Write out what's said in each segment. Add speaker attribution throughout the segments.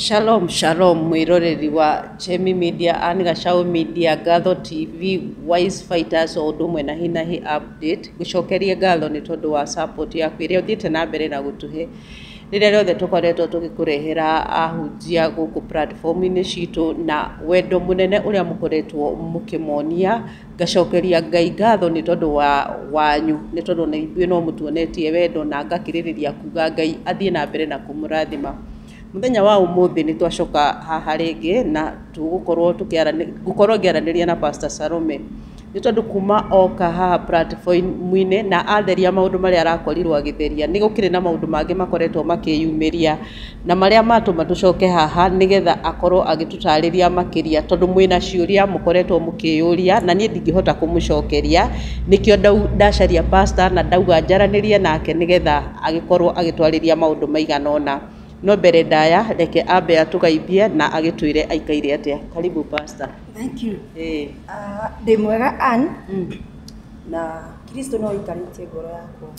Speaker 1: Shalom shalom mwĩroreri wa Chemi Media and Gacaũ Media Ngatho TV Wise Fighters o ũndũ ũmwe na Hinahi Update ngũcokerie ngatho nĩ tondũ wa support yaku ĩrĩa ũthiĩte na mbere na gũtũhe rĩrĩa rĩothe tũkoretwo tũgĩkũrehera ahunjia gũkũ platform-inĩ citũ na wendo mũnene ũrĩa mũkoretwo mũkĩmonia Ngacokeria Ngai ngatho nĩ tondũ wanyu, nĩ tondũ ona ithuĩ no mũtuonetie wendo, na ngakĩrĩrĩria kuuga Ngai athiĩ na mbere na kũmũrathima. Mũthenya wa ũmũthĩ nĩ twacoka haha rĩngĩ na tũgũkorwo tũkĩaranĩria, ngũkorwo ngĩaranĩria na Pastor Salome, nĩ tondũ kuuma oka haha platform-inĩ na atheria maũndũ marĩa arakorirwo agĩtheria, nĩ gũkĩrĩ na maũndũ mangĩ makoretwo makĩyumĩria. Na marĩa matũma tũcoke haha nĩgetha akorwo agĩtũtarĩria makĩria tondũ mwĩna ciũria mũkoretwo mũkĩyũria na niĩ ndingĩhota kũmũcokeria nĩkĩo ndacaria pastor na ndauga njaranĩrie nake nĩgetha agĩkorwo agĩtwarĩria maũndũ maigana ũna. No mbere ndaya reke ambe atũgeithie na agĩtwĩre aikaire atĩa. Karibu pastor. Thank you. Ĩĩ.
Speaker 2: Ndĩ mwega Ann na Kristo no aikarĩtie ngoro yakwa.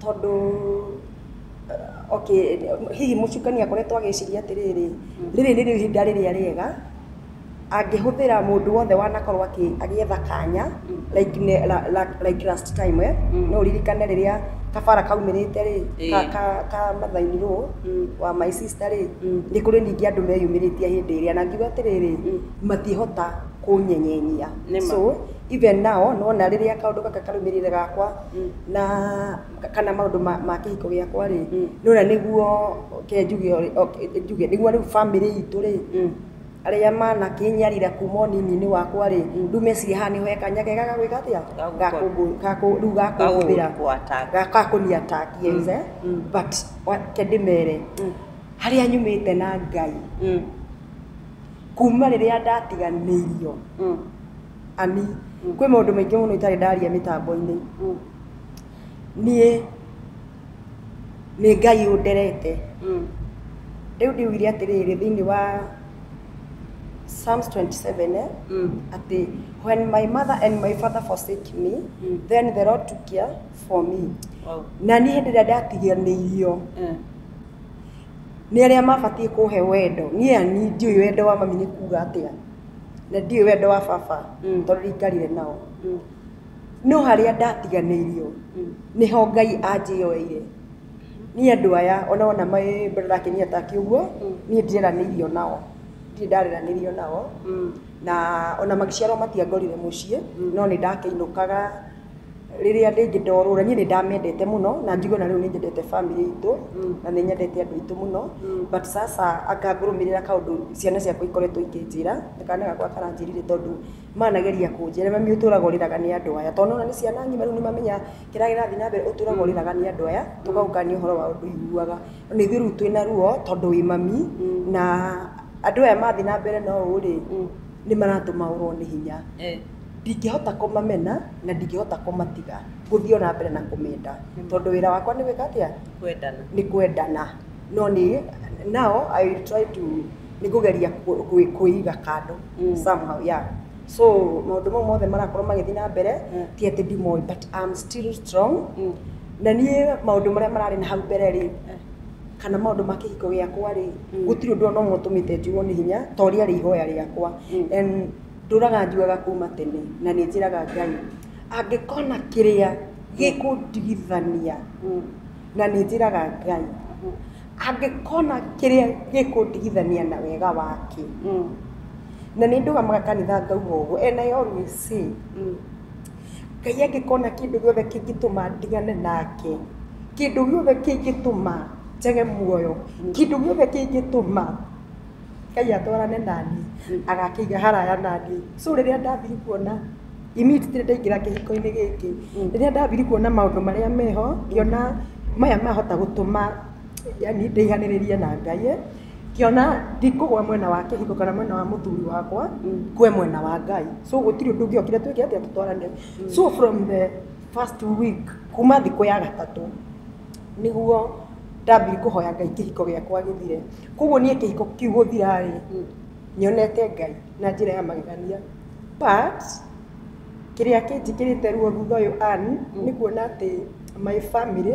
Speaker 2: Tondũ okay, hihi mũcukani akoretwo agĩciria atĩrĩrĩ, rĩrĩ nĩrĩo ihinda rĩrĩa rĩega, angĩhũthĩra mũndũ wothe wanakorwo agĩetha kanya, like like last time eh, no ũririkane rĩrĩa kabara kaumĩrĩte rĩ, ka ka Mother-in law wa my sister rĩ, nĩ kũrĩ ningĩ andũ meyumĩrĩtie hĩndĩ ĩrĩa, na ngiuga atĩrĩrĩ, matingĩhota kũnyenyenyia. So, even now nĩ wona rĩrĩa kaũndũ gaka karũmĩrĩire gakwa, na kana maũndũ ma, ma kĩhiko gĩakwa rĩ nĩwona nĩguo ke njuge ũrĩ- ok- njuge nĩguo rĩu bamĩrĩ itũ rĩ arĩa manakĩnyarira kuma ũnini-inĩ wakwa rĩ rĩu mecirie haha nĩho he kanya kega ga gwĩka atĩa ga kũngũ- ga kũ- rĩu ga kũhũthĩra ga ga kũni attack yes eh but wa- reke ndĩmere harĩa nyumĩte na Ngai kuma rĩrĩa ndatiganĩirio Ami, kwĩ maũndũ maingĩ mũno itarĩ ndaria mĩtambo-inĩ. Niĩ nĩ Ngai ũnderete. Rĩu ndiugire atĩrĩrĩ thĩinĩ wa Psalms 27 eh, atĩ when my mother and my father forsake me, then the Lord took care for me. Na niĩ hĩndĩ ĩrĩa ndatiganĩirio nĩ arĩa mabatiĩ kũhe wendo, niĩ Ani ndiũĩ wendo wa mami nĩ kuga atĩa. na ndiũĩ wendo wa baba Mm. tondũ ndingarire nao Mm. no harĩa ndatiganĩirio Mm. nĩho ngai anjĩyoeire niĩ andũ aya ona wona maĩ mbere ndakinyia taki ũguo Mm. niĩ ndieranĩirio nao ndirĩ ndareranĩrio nao Mm. na ona magĩciarwo matiangorire mũciĩ Mm. no nĩ ndakĩinũkaga Rĩrĩa rĩngĩ ndorũra, niĩ nĩ ndamĩendete mũno na njuge ona rĩu nĩ nyendete bamĩrĩ itũ na nĩ nyendete andũ aitũ mũno. But sasa anga ngũrũmĩrĩra kaũndũ ciana ciakwa ikoretwo ikĩnjĩra, ta kana gakwa karanjĩrire tondũ manageria kũnjĩra, mami ũtũraga ũrĩraga nĩ andũ aya. Tondũ nĩ ũrona nĩ ciana ng'ima rĩu nĩ mamenyaga kĩrĩa kĩrathiĩ na mbere, ũtũraga ũrĩraga nĩ andũ aya, tũgagũkania ũhoro wa ũndũ ũiguaga. Na ithuĩ rĩu twĩna ruo tondũ wĩ mami na andũ aya mathiĩ na mbere na ũũ rĩ, nĩ maratũma ũrũo nĩ hinya. ndingĩhota kũmamena na ndingĩhota kũmatiga ngũthiĩ ona mbere na kũmenda tondũ wĩra wakwa nĩ gwĩka atĩa kwendana nĩ kwendana no nĩ now I will try to nĩ kũgeria kũ- kũ- kwĩiga kando Mm. somehow yeah so maũndũ mau mothe marakorwo magĩthiĩ na mbere Mm. ti atĩ ndimoĩ but I'm still strong Mm. na niĩ maũndũ marĩa mararĩ na hau mbere rĩ kana maũndũ ma kĩhiko gĩakwa rĩ Mm. gũtirĩ ũndũ ona ũmwe ũtũmĩte njigwo nĩ hinya ta ũrĩa rĩ ihoya rĩakwa Mm. And Ndũraga njugaga kuuma tene na nĩ njĩraga Ngai angĩkona kĩrĩa gĩkũndigithania na nĩ njĩraga Ngai angĩkona kĩrĩa gĩkũndigithania na wega wake na nĩ ndũgamaga kanitha ngauga ũguo and I always say Ngai angĩkona kĩndũ gĩothe kĩngĩtũma ndigane nake, kĩndũ gĩothe kĩngĩtũma njage muoyo, kĩndũ gĩothe kĩngĩtũma... Ngai atwarane naniĩ agakĩiga haraya naniĩ so rĩrĩa ndambiri kuona immediately ndaingĩra kĩhiko-inĩ gĩkĩ rĩrĩa ndambiri kuona maũndũ marĩa meho ngĩona maya mahota gũtũma yani ndĩihanĩrĩrie na Ngai ĩ, ngĩona ndikũgwa mwena wa kĩhiko kana mwena wa mũthuri wakwa ngwe mwena wa Ngai so gũtirĩ ũndũ ũngĩokire twĩke atĩa tũtwarane so from the first week kuma thikũ ya gatatũ nĩguo ndambiri kũhoya ngai kĩhiko gĩakwa gĩthire koguo niĩ kĩhiko kĩu gũthira-rĩ nyonete ngai na njĩra ya magegania but kĩrĩa kĩnjĩkĩrĩte ruo thutha ũyũ Ann nĩ kuona atĩ my family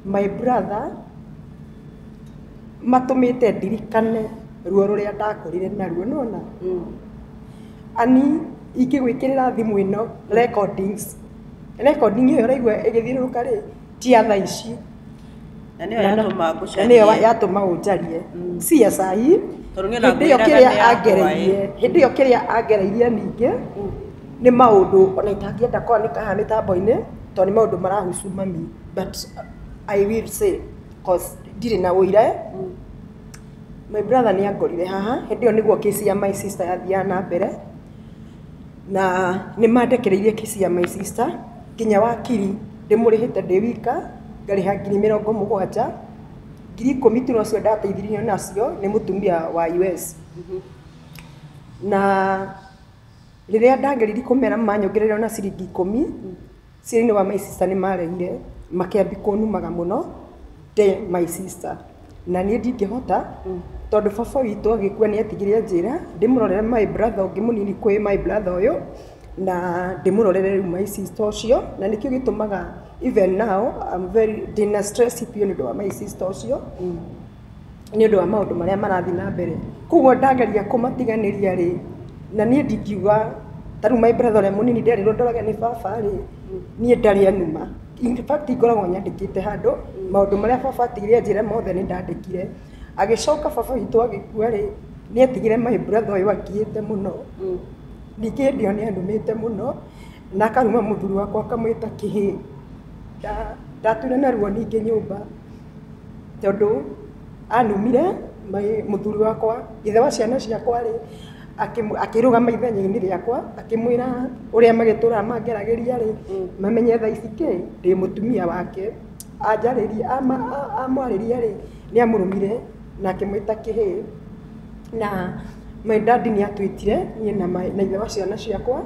Speaker 2: my brother matũmĩte ndirikane ruo rũrĩa ndakũrire naruo nĩ wona Ann ingĩgwĩkĩrĩra thimũ ĩno recordings recording ĩyo ũraigua ĩgĩthiũrũrũka rĩ ti ya thaa ici na nĩyo
Speaker 1: yatũma na ngũcarie nĩyo yatũma
Speaker 2: ũnjarie si ya saa hii Tondũ niĩ hĩndĩ ĩyo nakwĩraga kĩrĩa nĩ yakwa, angereirie ĩ. hĩndĩ ĩyo kĩrĩa angereirie ningĩ nĩ maũndũ ona itangĩenda kwanĩka haha mĩtambo-inĩ tondũ nĩ maũndũ marahusu mami but I will say cause ndirĩ na ũira my brother nĩ angorire haha hĩndĩ ĩyo nĩguo case ya my sister yathiaga na mbere Na nĩ mandekereirie kĩci ya my sister nginya wakiri ndĩmũrĩhĩte ndĩ wika ngarĩha ngiri mĩrongo mũgwanja, ngiri ikũmi tu nocio ndateithirio nacio nĩ mũtumia wa US. Na rĩrĩa ndageririe kũmera manyongerera ona ciringi ikũmi. Thĩinĩ wa my sister nĩ maregire makĩambia kũnumaga mũno ndĩ my sister na niĩ ndingĩhota tondũ baba witũ agĩkua nĩ atigire anjĩra ndĩmũrorere my brother ũngĩ mũnini kwĩ my brother ũyũ na ndĩmũrorere rĩu my sister ũcio na nĩkĩo gĩtũmaga even now I'm very ndĩna stress biũ nĩ ũndũ wa my sister ũcio. nĩ ũndũ wa maũndũ marĩa marathiĩ na mbere. Koguo ndageria kũmatiganĩria rĩ, na niĩ ndingiuga, ta rĩu my brother ũrĩa mũnini nderirwo ndorage nĩ baba rĩ, niĩ ndarĩ a numa. In fact ngoragwo nyandĩkĩte handũ maũndũ marĩa baba atigire anjĩre mothe nĩ ndandĩkire. Agĩcoka baba witũ agĩkua rĩ, nĩ etigire my brother ũyũ angiĩte mũno. Ningĩ hĩndĩ ĩyo nĩ anumĩte mũno, na akaruma mũthuri wakwa akamwĩta kĩhĩĩ. Ndatũire na ruo ningĩ nyũmba. tondũ anumire mũthuri wakwa, ithe wa ciana ciakwa rĩ, akĩrũgama ithenya-inĩ rĩakwa akĩmwĩra ũrĩa magĩtũraga mangeragĩria rĩ, mamenye thaa ici kĩ, ndĩ mũtumia wake. Anjarĩria, amwarĩria rĩ, nĩ amũrumire. na akĩmwĩta kĩhĩĩ, na my dad nĩ atwĩtire niĩ na my na ithe wa ciana ciakwa,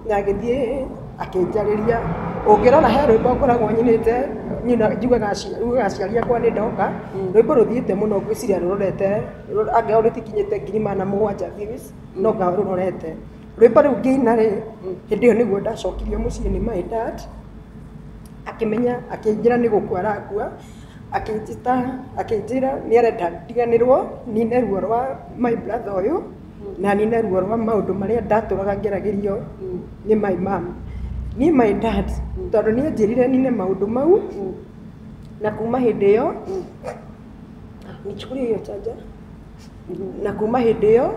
Speaker 2: na agĩthiĩ akĩnjarĩria, ũngĩrora he rwĩmbo ngoragwo nyinĩte niĩ na njugaga aciari njugaga aciari akwa nĩ ndoka, rwĩmbo rũthiĩte mũno ngwĩciria rũrorete angĩkorwo rũtikinyĩte ngiri magana mũgwanja views no ngao rũrorete, rwĩmbo rũu ngĩina rĩ, hĩndĩ ĩyo nĩguo ndacokirio mũciĩ nĩ my dad akĩmenya akĩnjĩra nĩ gũkua arakua. akĩnjĩta, akĩnjĩra nĩ arenda ndiganĩrwo nine ruo rwa my brother ũyũ na nine ruo rwa maũndũ marĩa ndatũraga ngeragĩrio nĩ my mom. Niĩ my dad tondũ nĩ anjĩrire nine maũndũ mau na kuma hĩndĩ ĩyo, nichukulie hiyo charger, na kuma hĩndĩ ĩyo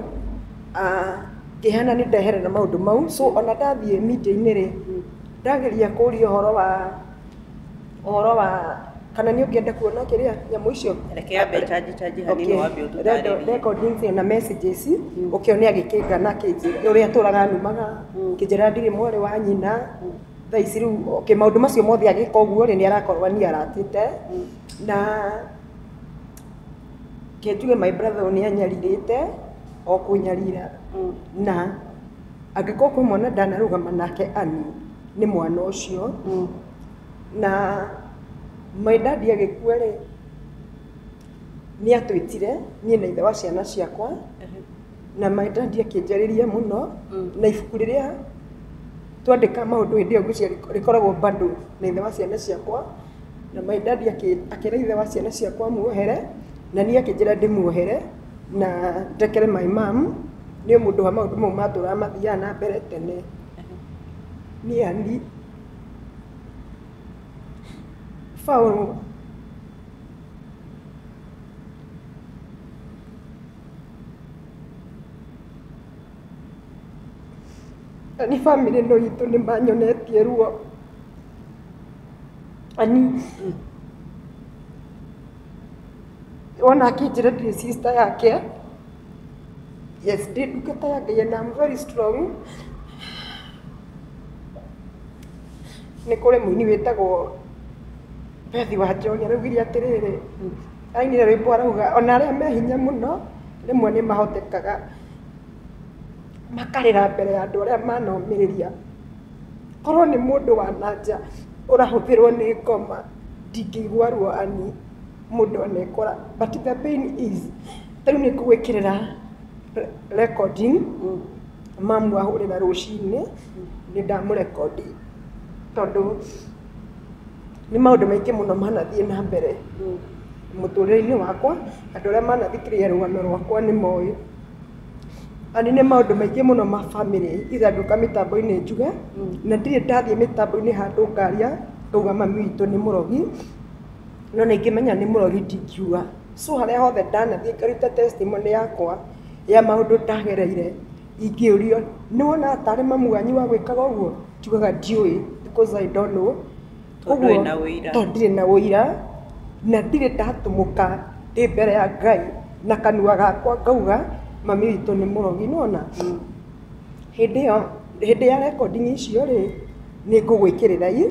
Speaker 2: ngĩhana nĩ ndeherera maũndũ mau so ona ndathiĩ meeting rĩ, ndageria kũria ũhoro wa ũhoro wa kana nĩ ũngĩenda kuona kĩrĩa nyamũ icio reke ambe chanji
Speaker 1: chanji hanini wambe ũtũtarĩrie recording icio na
Speaker 2: messages ũkĩone agĩkĩngana kĩnjĩ ũrĩa atũraga numaga kĩnjĩra ndirĩ mwarĩ wa nyina thaa ici rĩu okay, maũndũ macio mothe agĩka ũguo rĩ nĩ arakorwo niĩ aratĩte na kĩnjuge my brother ũyũ nĩ anyarirĩte o kũnyarira na Angĩkorwo kwĩ mwana ndanarũgama nake Ann nĩ mwana ũcio na my dad agĩkua rĩ nĩ atwĩtire niĩ na ithe wa ciana ciakwa na my dad akĩnjarĩria mũno na ibuku rĩrĩa twandĩka maũndũ hĩndĩ ĩyo ngwĩciria rĩkoragwo bado na ithe wa ciana ciakwa na my dad akĩra ithe wa ciana ciakwa amuohere na niĩ akĩnjĩra ndĩmuohere. na njekere my mum nĩ ũndũ mũndũ wa maũndũ mau matũraga mathiaga na mbere tene niĩ ani baũ ani bamĩrĩ ĩno itũ nĩ manyonetie ruo ani Wona akĩnjĩra ndirĩ sister yake, yes ndĩ ndungata ya Ngai and I'm very strong. Nĩ kũrĩ mũini wĩtagwo Beth Wanjohi araugire atĩrĩrĩ, ainire rwĩmbo arauga ona arĩa me hinya mũno rĩmwe nĩ mahotekaga makarĩra mbere ya andũ arĩa manomĩrĩria. Korwo nĩ mũndũ wa na nja ũrahũthĩrwo nĩ ngoma, ndingĩigua ruo ani mũndũ anekora, but the pain is ta rĩu nĩngũgwĩkĩrĩra recording mamu ahũrĩra rũcinĩ, nĩndamũrekondi, tondũ nĩ maũndũ maingĩ mũno manathiĩ na mbere mũtũrĩre-inĩ wakwa, andũ arĩa manathikĩrĩria rũgano rwakwa nĩmoĩ. Nĩ harĩ maũndũ maingĩ mũno ma bamĩrĩ iranduka mĩtambo-inĩ njuge, na ndirĩ ndathiĩ mĩtambo-inĩ handũ ngaria ngauga mami witũ nĩ mũrogi, no ona ingĩmenya nĩ mũrogi ndingiuga. So harĩa hothe ndanathiĩ ngaruta testimony yakwa ya maũndũ ndagereire, ingĩũrio nĩ wonaga tarĩ mami wanyu wagwĩkaga ũguo? Njugaga ndiũĩ because I don't know. Tondũ ndũrĩ na
Speaker 1: ũira. tondũ ndirĩ na
Speaker 2: ũira na ndirĩ ndatũmũka ndĩ mbere ya Ngai na kanua gakwa ngauga mami witũ nĩ mũrogi. Nĩ wona? Hĩndĩ ĩyo, hĩndĩ ya recording icio rĩ, nĩ ngũgwĩkĩrĩra i,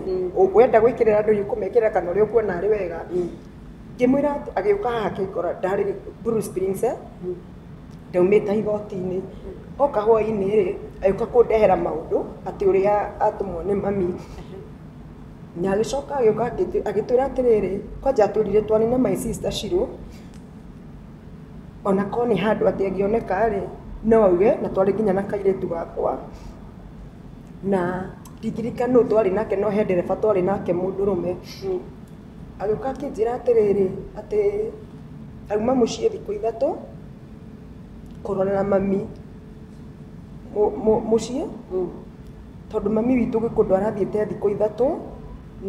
Speaker 2: wenda gwĩkĩrĩra andũ i ũkũmekĩrĩra kana ũrĩa ũkuona arĩ wega. Ngĩmwĩra atĩ, agĩũka haha akĩngora ndarĩ Blue Springs, ndaumĩte igoti-inĩ. Oka hwainĩ rĩ, agĩũka kũndehera maũndũ atĩ ũrĩa atũmwo nĩ mami. na agĩcoka agĩũka akĩtwĩ- agĩtwĩra atĩrĩrĩ kwanja atwĩrire twanine my sister shiro ona ko nĩ handũ atĩ angĩoneka rĩ no auge na twarĩ nginya na kairĩtu gakwa na nditirikana nũ twarĩ nake no he ndereba twarĩ nake mũndũrũme agĩũka akĩnjĩra atĩrĩrĩ atĩ auma mũciĩ thikũ ithatũ kũrorera mami Mũ- mũ- mũciĩ tondũ mami witũ gĩkũndũ arathiĩte thikũ ithatũ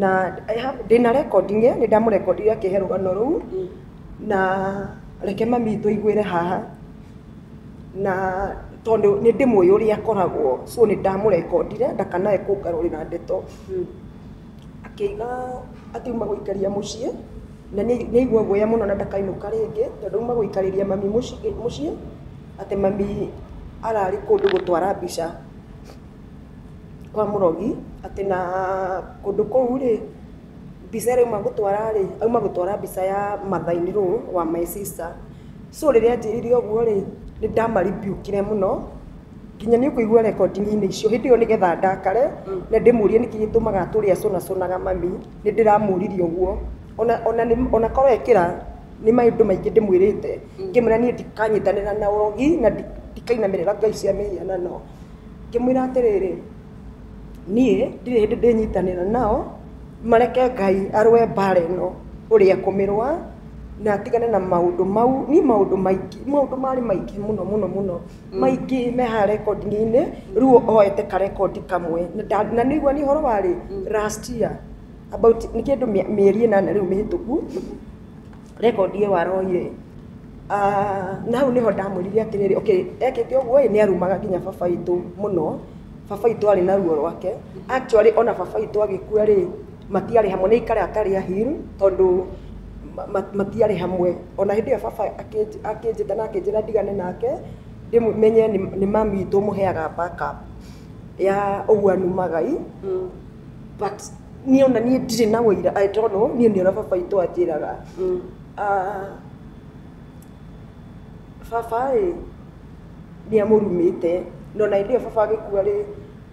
Speaker 2: na I have- ndĩna recording ĩ nĩ ndamũrekondire akĩhe rũgano rũu na reke mami witũ aiguĩre haha na tondũ nĩ ndĩmũĩ ũrĩa akoragwo so nĩ ndamũrekondire ndakanae kũngarũrĩra ndeto akĩiga akiuma gũikaria mũciĩ na nĩ nĩ aigua guoya mũno na ndakainũka rĩngĩ tondũ auma gũikarĩria mami mũci- mũciĩ atĩ mami ararĩ kũndũ gũtwara mbica kwa mũrogi, atĩ na kũndũ kũu rĩ, mbica ĩrĩa auma gũtwara rĩ, auma gũtwara mbica ya mother in law wa my sister. So rĩrĩa anjĩrire ũguo rĩ, nĩ ndama rebuke ire mũno, nginya nĩ ũkũigua recording -inĩ icio. Hĩndĩ ĩyo nĩgetha ndakare, na ndĩmũrie nĩkĩ gĩtũmaga atũre acũnacũnaga mami, nĩ ndĩramũrire ũguo. Ona korwo ekĩra, nĩ maũndũ maingĩ ndĩmwĩrĩte. Ngĩmwĩra niĩ ndikanyitanĩra na ũrogi na ndikainamĩrĩra ngai cia mĩhianano. Ngĩmwĩra atĩrĩrĩ, niĩ ndirĩ hĩndĩ ndĩnyitanĩra nao, mareke Ngai arũe mbaara ĩno ũrĩa ekũmĩrũa na atigane na maũndũ mau. Niĩ maũndũ maingĩ, maũndũ marĩ maingĩ mũno mũno mũno, maingĩ me haha rekondi-inĩ, rĩu oete karekondi kamwe. Na nĩ ũraigua nĩ ũhoro wa rĩ, last year, about nĩ kĩndũ mĩeri ĩnana rĩu mĩhĩtũku. rekondi ĩyo aroire Ah, na hau niho ndamwĩrire atĩrĩrĩ okay ekĩte ũguo ĩ nĩ arumaga nginya baba itũ mũno baba itũ arĩ na ruo rwake actually ona baba itũ agĩkua rĩ matiarĩ hamwe nĩ ikare atarĩ ahiru tondũ ma- ma- matiarĩ hamwe ona hĩndĩ ĩyo baba akĩnj- akĩnjĩta na akĩnjĩra ndigane nake ndĩmũ- menye nĩ nĩ mami itũ ũmũheaga backup ya ũguo anumaga i but niĩ ona niĩ ndirĩ na ũira I don't know niĩ nĩ ũrĩa baba witũ anjĩraga Ah, baba ĩ nĩ amũrumĩte no na hĩndĩ ĩyo baba agĩkua rĩ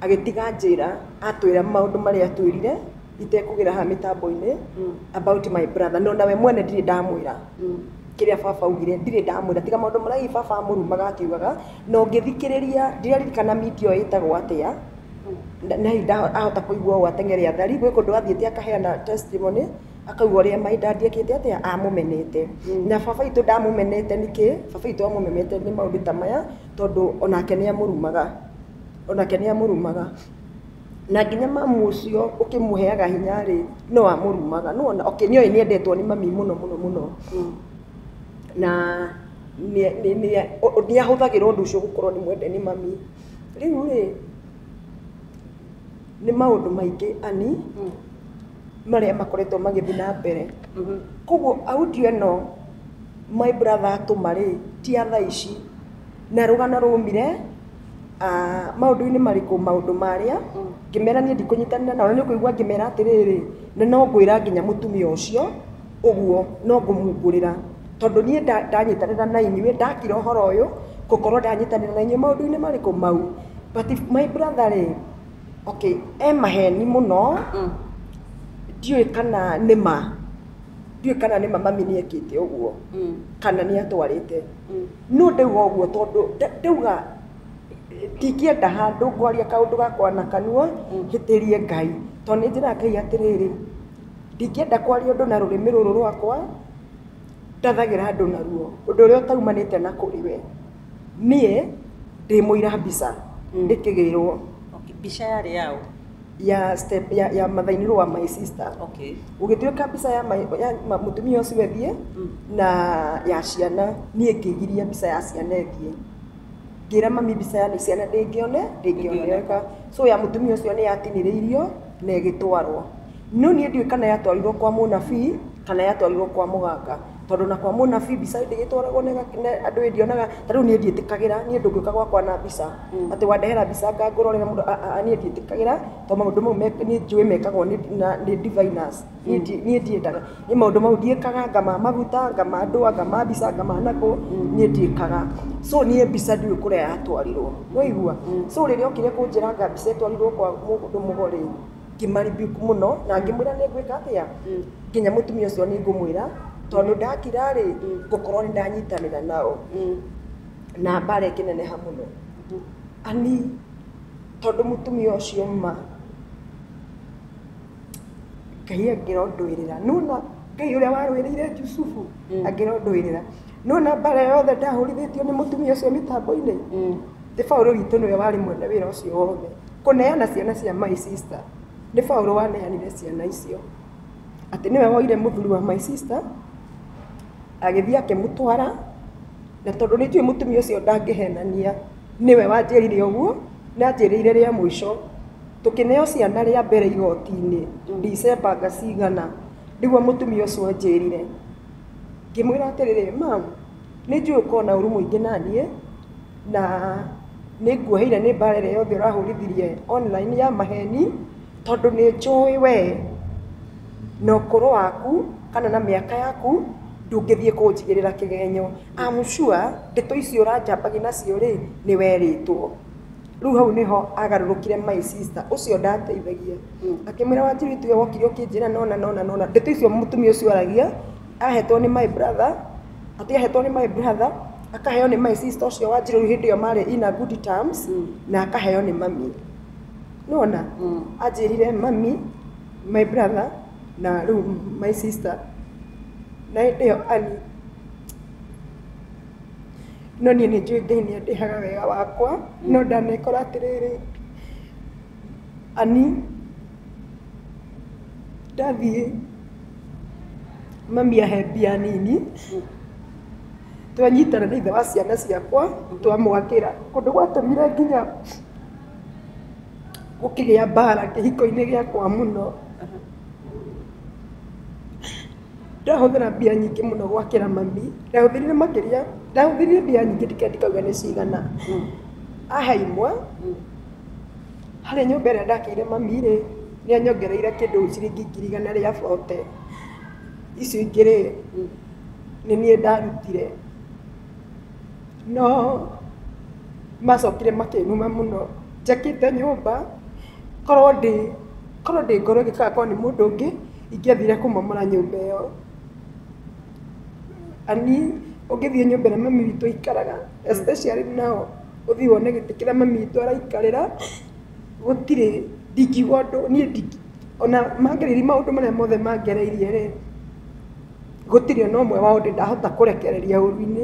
Speaker 2: agĩtiga njĩra atwĩra maũndũ marĩa atwĩrire itekũgera haha mĩtambo-inĩ about my brother no nawe mwene ndirĩ ndamwĩra kĩrĩa baba augire ndirĩ ndamwĩra tiga maũndũ marĩa hihi baba amũrumaga akiugaga na ũngĩthikĩrĩria ndiraririkana media ĩyo ĩtagwo atĩa Nai ahota kũigua ũũ ateng'ere athari, gwĩ kũndũ athiĩte akaheana testimony, akauga ũrĩa my dad ekĩte atĩa, amũmenete. Na baba witũ ndamũmenete nĩkĩ? Baba witũ amũmenete nĩ maũndũ ta maya, tondũ o nake nĩ amũrumaga, o nake nĩ amũrumaga. Na nginya mamu ũcio ũkĩmũheaga hinya rĩ, no amũrumaga. Nĩ wona? Okay, nĩ oĩ nĩ endetwo nĩ mami mũno mũno mũno. Na nĩ nĩ nĩ nĩ ahũthagĩra ũndũ ũcio gũkorwo nĩ mwende nĩ mami. Rĩu rĩ, nĩ maũndũ maingĩ ani marĩa makoretwo magĩthiĩ na mbere. Koguo audio ĩno my brother atũma rĩ, ti ya thaa ici. Na rũgano rwaumire maũndũ-inĩ marĩkũ? Maũndũ marĩa, ngĩmera niĩ ndikũnyitanĩra nao, na nĩ ũkũigua ngĩmera atĩrĩrĩ, na no ngwĩra nginya mũtumia ũcio. ũguo no ngũmungũrĩra tondũ niĩ ndanyitanĩra na inyuĩ ndakira ũhoro ũyũ gũkorwo ndanyitanĩra na inyuĩ maũndũ-inĩ marĩkũ mau but my brother rĩ okay e maheni mũno ndiũĩ kana nĩ ma ndiũĩ kana nĩ ma mami nĩ ekĩte ũguo kana nĩ atwarĩte no ndauga ũguo tondũ ndauga ndingĩenda handũ ngwaria kaũndũ gakwa na kanua hĩtĩrie Ngai tondũ nĩ njĩraga Ngai atĩrĩrĩ. Ndingĩenda kwaria ũndũ na rũrĩmĩ rũrũ rwakwa, ndathagĩra andũ naruo, ũndũ ũrĩa ũtaumanĩte na kũrĩ we. Niĩ ndĩ mũira mbica ndĩkĩgĩrwo. Okay, mbica
Speaker 1: yarĩ ya ũ? Ya step,
Speaker 2: ya, ya mother-inĩ-law wa my sister. Okay. Gũgĩtuĩka mbica ya my, ya mũtumia ũcio ĩthiĩ, na ya ciana, niĩ ngĩgiria mbica ya ciana ĩthiĩ. Ngĩra mami mbica ya ciana ndĩngĩone, ndĩngĩoneka. So ya mũtumia ũcio nĩ yatinĩrĩirio, na ĩgĩtwarwo. No niĩ ndiũĩ kana yatwarirwo kwa mũnabii kana yatwarirwo kwa mũganga tondũ na kwa mũnabii mbica ndĩgĩtwaragwo na ĩga- na andũ ĩĩ ndionaga ta rĩu niĩ ndiĩtĩkagĩra niĩ ndũngĩũka gwakwa na mbica atĩ wandehera mbica ngangũrorera mũndũ a- a- a niĩ ndiĩtĩkagĩra to maũndũ mau me- nĩ njũĩ mekagwo nĩ- na- nĩ diviners niĩ ndi- niĩ ndiĩkaga niĩ maũndũ mau ndiĩkaga anga ma maguta anga ma ndũa anga ma mbica anga ma nakũ niĩ ndiĩkaga so niĩ mbica ndiũĩ kũrĩa yatwarirwo nĩwaigua so rĩrĩa okire kũnjĩra anga mbica ĩtwarirwo kwa mũndũ mũgo rĩ ngĩmaribuk mũno na ngĩmwĩra nĩ ngwĩka atĩa nginya mũtumia ũcio nĩ ngũmwĩra tondũ ndakira rĩ ngũkorwo nĩ ndanyitanĩra nao na mbara ĩkĩneneha mũno ani tondũ mũtumia ũcio ma ngai angĩrondũĩrĩra nĩwona ngai ũrĩa warũĩrĩire jusufu angĩrondũĩrĩra. nona mbara yothe ndahũrithĩtio nĩ mũtumia ũcio mĩtambo-inĩ nĩ Paũlũ witũ nĩwe warĩ mwene wĩra ũcio wothe kũneana ciana cia my sister nĩ Paũlũ waneanire ciana icio atĩ nĩwe woire mũthuri wa my sister agĩthiĩ akĩmũtwara na tondũ nĩ njũĩ mũtumia ũcio ndangĩhenania nĩwe wanjĩrire ũguo na anjĩrĩire rĩa mũico tũkĩneo ciana rĩa mbere igoti-inĩ December cigana nĩguo mũtumia ũcio anjĩrire. Ngĩmwĩra atĩrĩrĩ, Ma'am, nĩ njũĩ ũkoragwo na ũũru mũingĩ na niĩ, na nĩ nguoheire nĩ mbaara ĩrĩa yothe ũrahũrithirie online ya maheeni, tondũ nĩ njũĩ we na ũkũrũ waku kana na mĩaka yaku ndũngĩthiĩ kũnjigĩrĩra kĩgenyo. I'm sure ndeto ici ũranjambagia nacio rĩ, nĩ werĩtwo. Rĩu hau nĩho agarũrũkire my sister ũcio ndateithagia. Akĩmwĩra wanjĩrĩ ũyũ tiwe wokire ũkĩnjĩra na ũna na ũna na ũna. Ndeto icio mũtumia ũcio aragia ahetwo nĩ my brother, atĩ ahetwo nĩ my brother, akaheo nĩ my sister ũcio wanjĩrĩ rĩu hĩndĩ ĩyo marĩ in a good terms na akaheo nĩ mami. Nĩwona? Anjĩrire mami, my brother na rĩu my sister. Na hĩndĩ ĩyo Ann no niĩ nĩ njũĩ Ngai nĩ andĩhaga wega wakwa, no ndanekora atĩrĩrĩ, Ani, ndathiĩ mami ahe mbia nini, twanyitana na ithe wa ciana ciakwa, twamwakĩra. Ũndũ gwatũmire nginya gũkĩgĩa mbara kĩhiko-inĩ gĩakwa mũno, ndahũthĩra mbia nyingĩ mũno gwakĩra mami, ndahũthĩrire makĩria, ndahũthĩrire mbia nyingĩ ndikenda ndikauga nĩ cigana, ahe imwe. Harĩ nyũmba ĩrĩa ndakĩire mami rĩ, nĩ anyongereire kĩndũ ciringi ngiri igana rĩa bote. Icio ingĩ rĩ, nĩ niĩ ndarutire. No macokire makĩnuma mũno njakĩte nyũmba, korwo ndĩ ngoro ĩgĩkaya korwo nĩ mũndũ ũngĩ, ingĩathire kũmomora nyũmba ĩyo. Ani, ũngĩthiĩ nyũmba ĩrĩa mami witũ aikaraga, especially now ũthiĩ wone gĩtĩ kĩrĩa mami witũ araikarĩra, gũtirĩ, ndingiuga ũndũ, niĩ ndingĩ, o na mangerie maũndũ marĩa mothe mangereirie rĩ, gũtirĩ o na ũmwe wao ndĩndahota kũrekereria ũru-inĩ.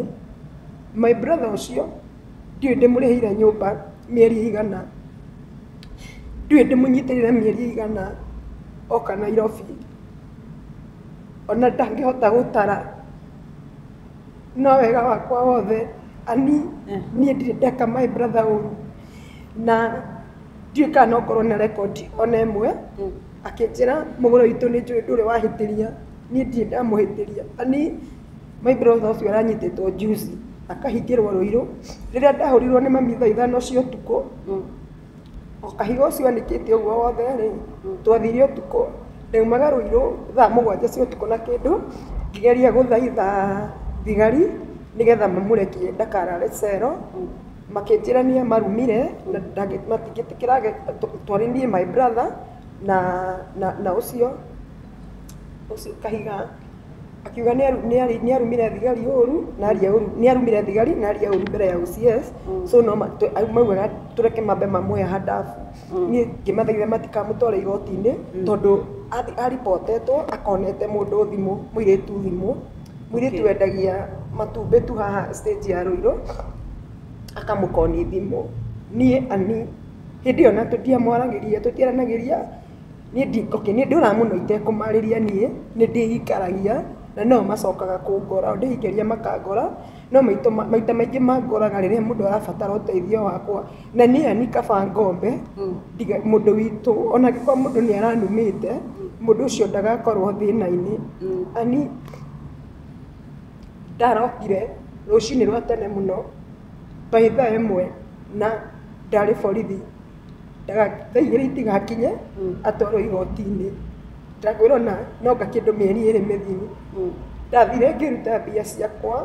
Speaker 2: My brother ũcio, ndiũĩ ndĩmũrĩhĩire nyũmba mĩeri ĩigana, ndiũĩ ndĩmũnyitĩrĩire mĩeri ĩigana oka Nairobi. ona ndangĩhota gũtara no wega wakwa wothe ani niĩ ndirĩ ndeka my brother ũru na ndiũĩ kana no ngorwo na record ona ĩmwe akĩnjĩra mũgũre witũ nĩ njũĩ ndũrĩ wahĩtĩria niĩ ndirĩ ndamũhĩtĩria ani my brother ũcio aranyitĩtwo juzi akahingĩrwo rũirũ rĩrĩa ndahũrirwo nĩ mami thaa ithano cia ũtukũ O kahiga ũcio anĩkĩte ũguo wothe rĩ, twathire ũtukũ, ndaumaga Ruiru thaa mũgwanja cia ũtukũ na kĩndũ, ngĩgeria gũthaitha thigari nĩgetha mamũrekie ndakarare cero, makĩnjĩra niĩ marumire na matingĩtĩkĩra twarĩ niĩ my brother na ũcio kahiga. akiuga nĩ arumire thigari ũru na aria ũru nĩ arumire thigari na aria ũru mbere ya OCS so no maugaga tũreke mambe mamuoe handabũ niĩ ngĩmathaitha matikamũtware igoti-inĩ tondũ a report etwo akonete mũndũ thimũ mũirĩtu thimũ mũirĩtu wendagia matumbĩ tu haha stage ya Ruiru akamũkonia thimũ niĩ hĩndĩ ĩyo ona tũtiamwaragĩria tũtiaranagĩria. Niĩ ndi, okay, nĩ ndũraga mũno itekũmarĩria niĩ, nĩ ndĩikaragia, na no o macokaga kũngora, o ndĩikĩria makangora, no maitũ, maita maingĩ mangoraga rĩrĩa mũndũ arabatara ũteithio wakwa, na niĩ yani kaba ngombe, ndiga, mũndũ witũ, ona angĩkorwo mũndũ nĩ aranumĩte, mũndũ ũcio ndagakorwo thĩna-inĩ, yani ndarokire rũcinĩ rwa tene mũno, by thaa ĩmwe, na ndarĩ borithi. ndagagĩka thaa igĩrĩ itigakinye atwarwo igoti-inĩ, ndagwĩrwo na no ngakĩndwo mĩeri ĩrĩ mĩthiru. Ndathire ngĩruta mbia ciakwa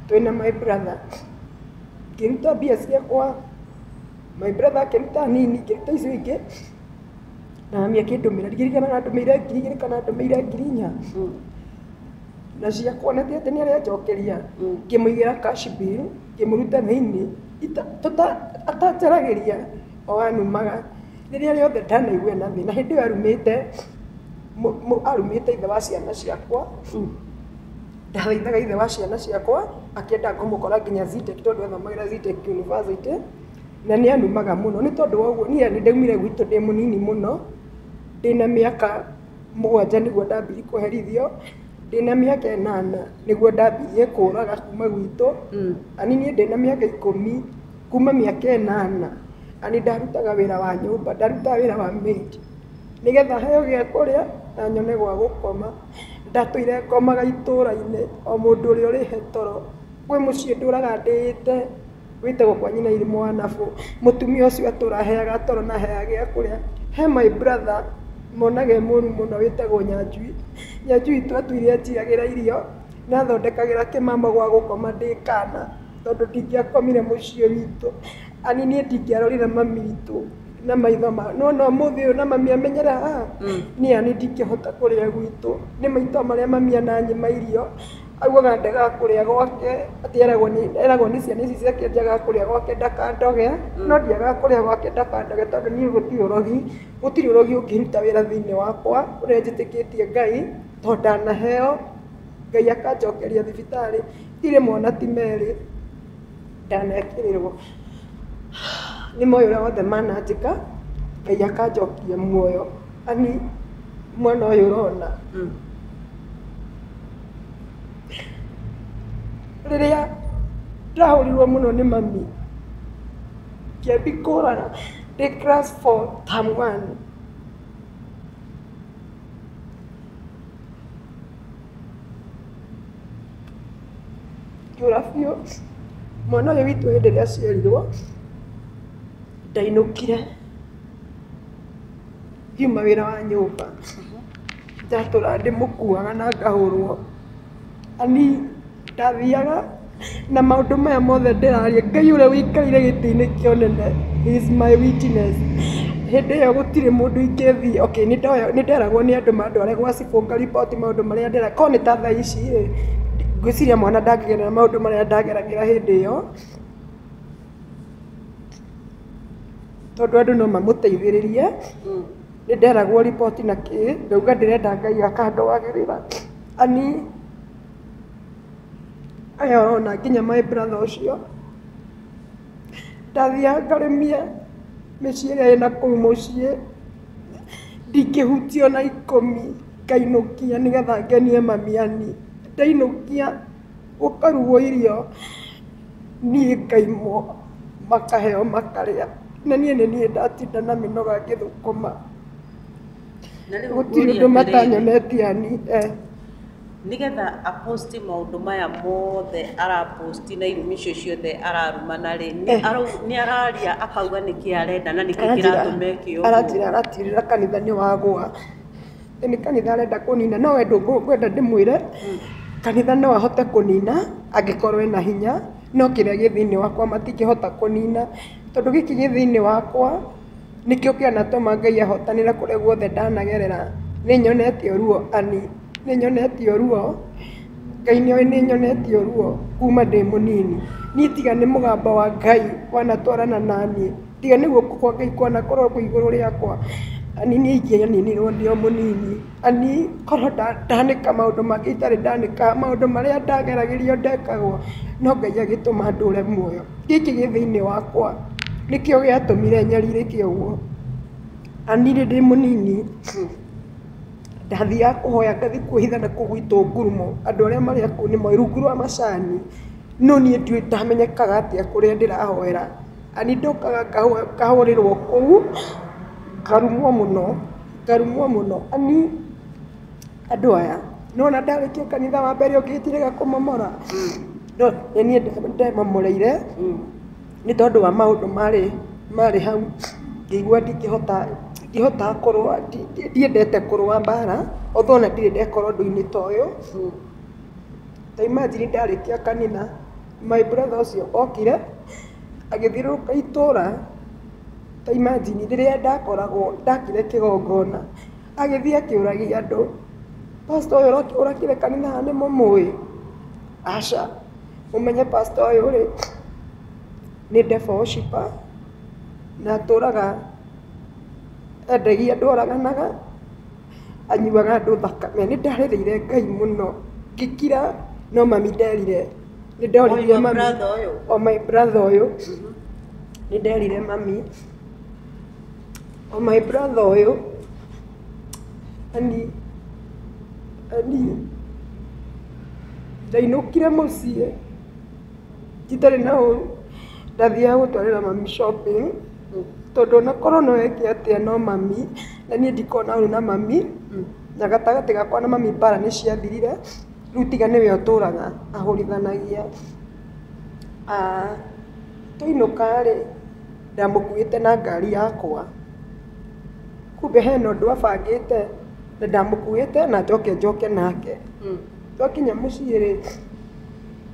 Speaker 2: twĩ na my brother, ngĩruta mbia ciakwa, my brother akĩruta nini, ngĩruta icio ingĩ, na mami akĩndũmĩra, ndirikanaga kana andũmĩire ngiri igĩrĩ kana andũmĩire ngiri inya, na ciakwa na ti atĩ nĩ arenjokeria, ngĩmũigĩra cash bill. Ngĩmũruta thĩinĩ atanjaragĩria o anumaga rĩrĩa rĩothe ndanaigua ena thĩna. Hĩndĩ ĩyo arumĩte arumĩte ithe wa ciana ciakwa, ndathaithaga ithe wa ciana ciakwa akĩenda ngũmũkora nginya Zitech tondũ athomagĩra Zitech University na nĩ anumaga mũno. Nĩ tondũ wa ũguo niĩ ndaumire gwitũ ndĩ mũnini mũno, ndĩna mĩaka mũgwanja nĩguo ndambirie kũherithio. Ndĩna mĩaka ĩnana nĩguo ndambirie kũraga kuma gwitũ, na niĩ ndĩna mĩaka ikũmi, kuma mĩaka ĩnana na nĩ ndarutaga wĩra wa nyũmba, ndarutaga wĩra wa maid nĩgetha heo gĩa kũrĩa na nyone gwa gũkoma. Ndatũire ngomaga itũra-inĩ o mũndũ ũrĩa ũrĩ he toro, kwĩ mũciĩ ndũraga ndĩĩte. Gwĩtagwo kwanyu na irimũ anabu. Mũtumia ũcio atũra aheaga toro na aheaga gĩa kũrĩa. He my brother monaga e mũru mũno wĩtagwo Nyanjui. Nyanjui tu atũire anjigagĩra irio na athondekagĩra kĩmama gwa gũkoma ndĩ kaana tondũ ndingĩakomire mũciĩ witũ. Ani niĩ ndingĩarorire mami witũ na maitho ma. Nĩ wona ũmũthĩ ũyũ na mami amenyera haha, niĩ ani ndingĩhota kũrĩa gwitũ. Nĩ maitho marĩa mami ananyima irio. Augaga ndagakũrĩa gwake, atĩ eragwo nĩ eragwo nĩ ciana ici ciake ndagakũrĩa gwake ndakandoge, no ndiagakũrĩa gwake ndakandoge tondũ niĩ gũtirĩ ũrogi, gũtirĩ ũrogi ũngĩruta wĩra thĩiniĩ wakwa, ũrĩa njĩtĩkĩtie Ngai, to ndanaheo, Ngai akanjokeria thibitarĩ, ti rĩmwe na ti merĩ. ndanekĩrĩrwo nĩ moyo ũrĩa wothe mananjĩka ngai akanjokia muoyo ani mwana ũyũ ũrona rĩrĩa ndahũrirwo mũno nĩ mami kĩambi kũrara ndĩ class 4 term 1 Ngĩũra biũ, mwana ũyũ witũ hĩndĩ ĩrĩa aciarirwo, ndainũkire ngiuma wĩra wa nyũmba, ndatũraga ndĩmũkuaga na ngahũrwo. Mami ndathiaga... Na maũndũ maya mothe ndĩraria, Ngai ũrĩa ũikarĩire gĩtĩ-inĩ kĩa ũnene he is my witness. Hĩndĩ ĩyo gũtirĩ mũndũ ingĩthiĩ, okay nĩ nderagwo nĩ andũ mandware gwa cibũ nga report maũndũ marĩa ndĩreka, korwo nĩ ta thaa ici rĩ, ngwĩciria mwana ndangĩgerera maũndũ marĩa ndageragĩra hĩndĩ ĩyo, tondũ andũ no mamũteithĩrĩrie. Nĩ nderagwo report na kĩ, ngauga ndĩrenda Ngai aka handũ wagĩrĩra. Aya ona nginya my brother ũcio ndathiaga ngarĩmia mĩciĩ ĩrĩa ĩna kũu mũciĩ ndingĩhutio na ikũmi ngainũkia nĩgetha ngenie mamiani ndainũkia gũkarugwo irio niĩ ngaimwo makaheo makarĩa na niĩ nĩ niĩ ndatinda na mĩnoga ngĩthũkũma gũtirĩ ũndũ matanyonetie ani eh.
Speaker 1: nĩgetha a post maũndũ maya mothe ara post na irumi icio ciothe ararumana rĩ nĩ Eh. arau- nĩ araria akauga nĩkĩ arenda na nĩkĩ kĩratũma eke ũguo aranjĩra aratirĩra kanitha
Speaker 2: nĩ wagwa Ĩ nĩ kanitha arenda kũnina no we ndũkwenda ndĩmwĩre kanitha no ahote kũnina angĩkorwo ena hinya no kĩrĩa gĩ thĩinĩ wakwa matingĩhota kũnina tondũ gĩkĩ gĩ thĩinĩ wakwa Nĩkĩo kĩanatũma Ngai ahotanĩra kũrĩa guothe ndanagerera. Nĩnyonetie ruo Ani, nĩnyonetie ruo, Ngai nĩoĩ nĩnyonetie ruo kuma ndĩ mũnini. Niĩ tiga nĩ mũgambo wa Ngai wanatwarana na niĩ, tiga nĩ guoko kwa Ngai kwanakorwo kwĩ igũrũ rĩakwa, Ani niĩ ingĩaninirwo ndĩ o mũnini. Niĩ korwo ndanĩka maũndũ mangĩ itarĩ ndanĩka, maũndũ marĩa ndageragĩrio ndekagwo no Ngai agĩtũma ndũre muoyo. Gĩkĩ gĩ thĩiniĩ wakwa nĩkĩo gĩatũmire nyarirĩke ũguo. Na niĩ ndĩ mũnini ndathiaga kũhoya ngathiĩ kwĩhitha na kũu gwitũ ngurumo, andũ arĩa marĩ a kũu nĩ moĩ, rungu rwa macani, no niĩ ndiũĩ ndamenyekaga atĩa kũrĩa ndĩrahoera. Nĩ ndokaga ngahũrĩrwo kũu, ngarumwo mũno, ngarumwo mũno. Amu andũ aya, nĩ wona ndarĩkia kanitha wa mbere ũngĩkĩrega kũmomora? No nĩ niĩ ndemomoreire nĩ tondũ wa maũndũ marĩ hau, ngĩigua ndingĩhota kũrũa, ndiendete kũrũa mbaara, although ona ndirĩ ndeka ũndũ-inĩ ta ũyũ. Ta imagine ndarĩkia kanitha, My brother ũcio okire agĩthiũrũrũka itũra ta imagine rĩrĩa ndakoragwo ndakire kĩgongona agĩthiĩ akĩũragia andũ. Pastor ũyũ ũrakire kanitha haha nĩ mũmũĩ? Aca. Mũmenye pastor ũyũ rĩ nĩ devil worshipper na atũraga endagia andũ oraganaga. anyuaga andũ thakame. Nĩ ndarĩrĩire Ngai mũno ngĩkira no mami nderire. Nĩ ndoririe mami. O my brother ũyũ. Nĩ nderire mami. O my brother ũyũ. Ani, ani, ndainũkire mũciĩ. itarĩ na ũru, ndathiaga gũtwarĩra mami shopping, tondũ ona korwo no eke atĩa no mami, na niĩ ndikoragwo na ũru na mami, na gatagatĩ gakwa na mami mbara nĩ ciathirire, rĩu tiga nĩwe ũtũraga ahũrithanagia. Twainũka rĩ, ndamũkuĩte na ngari yakwa, kumbe hena ũndũ abangĩte, na ndamũkuĩte na njoke njoke nake. Twakinya mũciĩ rĩ,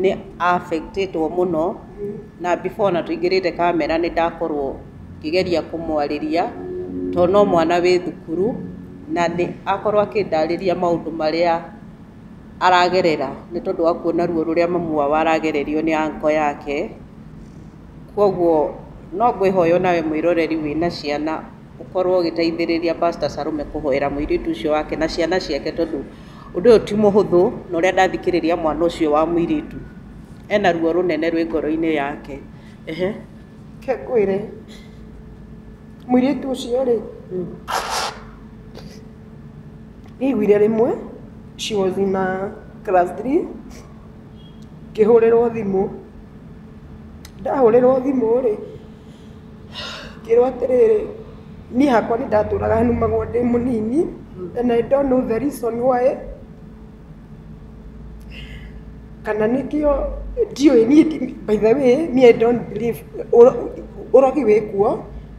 Speaker 1: nĩ affect ĩtwo mũno na before ona tũingĩrĩte kamera nĩ ndakorwo ngĩgeria kũmwarĩria to no mwana wĩ thukuru na nĩ akorwo akĩndarĩria maũndũ marĩa aragerera nĩ tondũ wa kuona ruo rũrĩa mamu wao aragererio nĩ uncle yake kwoguo no ngwĩhoya onawe mwĩroreri wĩna ciana ũkorwo ũgĩteithĩrĩria pastor Salome kũhoera mũirĩtu ũcio wake na ciana ciake tondũ ũndũ ũyũ ti mũhũthũ na ũrĩa ndathikĩrĩria mwana ũcio wa mũirĩtu ena ruo rũnene rwĩ ngoro-inĩ yake. Ehe. Reke
Speaker 2: ngwĩre, mũirĩtu ũcio rĩ, nĩ aiguire rĩmwe she was in a class three ngĩhũrĩrwo thimũ, ndahũrĩrwo thimũ rĩ, Ngĩrwo atĩrĩrĩ, niĩ hakwa nĩ ndatũraga nũmagwo ndĩ mũnini and I don't know the reason why kana nĩkĩo ndiũĩ niĩ by the way niĩ I don't believe ũrogi wĩ kuo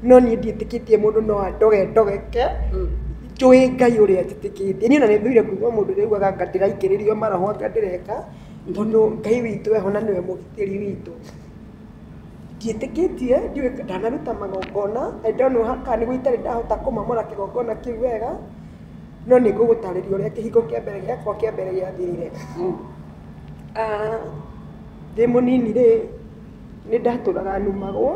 Speaker 2: no niĩ ndiĩtĩkĩtie mũndũ no andoge ndogeke njũĩ Ngai ũrĩa njĩtĩkĩtie. Niĩ ona nĩ thũire kũigua mũndũ ũrĩa ugaga anga ndĩraikĩrĩrio maroho anga ndĩreka tondũ Ngai witũ eho na nĩwe mũgitĩri witũ. Ndiĩtĩkĩtie, ndiũĩ, ndanaruta magongona, I don't know kana nĩguo itarĩ ndahota kũmamũra kĩgongona kĩu wega, no nĩ ngũgũtarĩria ũrĩa kĩhingo kĩa mbere gĩakwa kĩa mbere gĩathirire. Ndĩ mũnini rĩ, nĩ ndatũraga nũmagwo,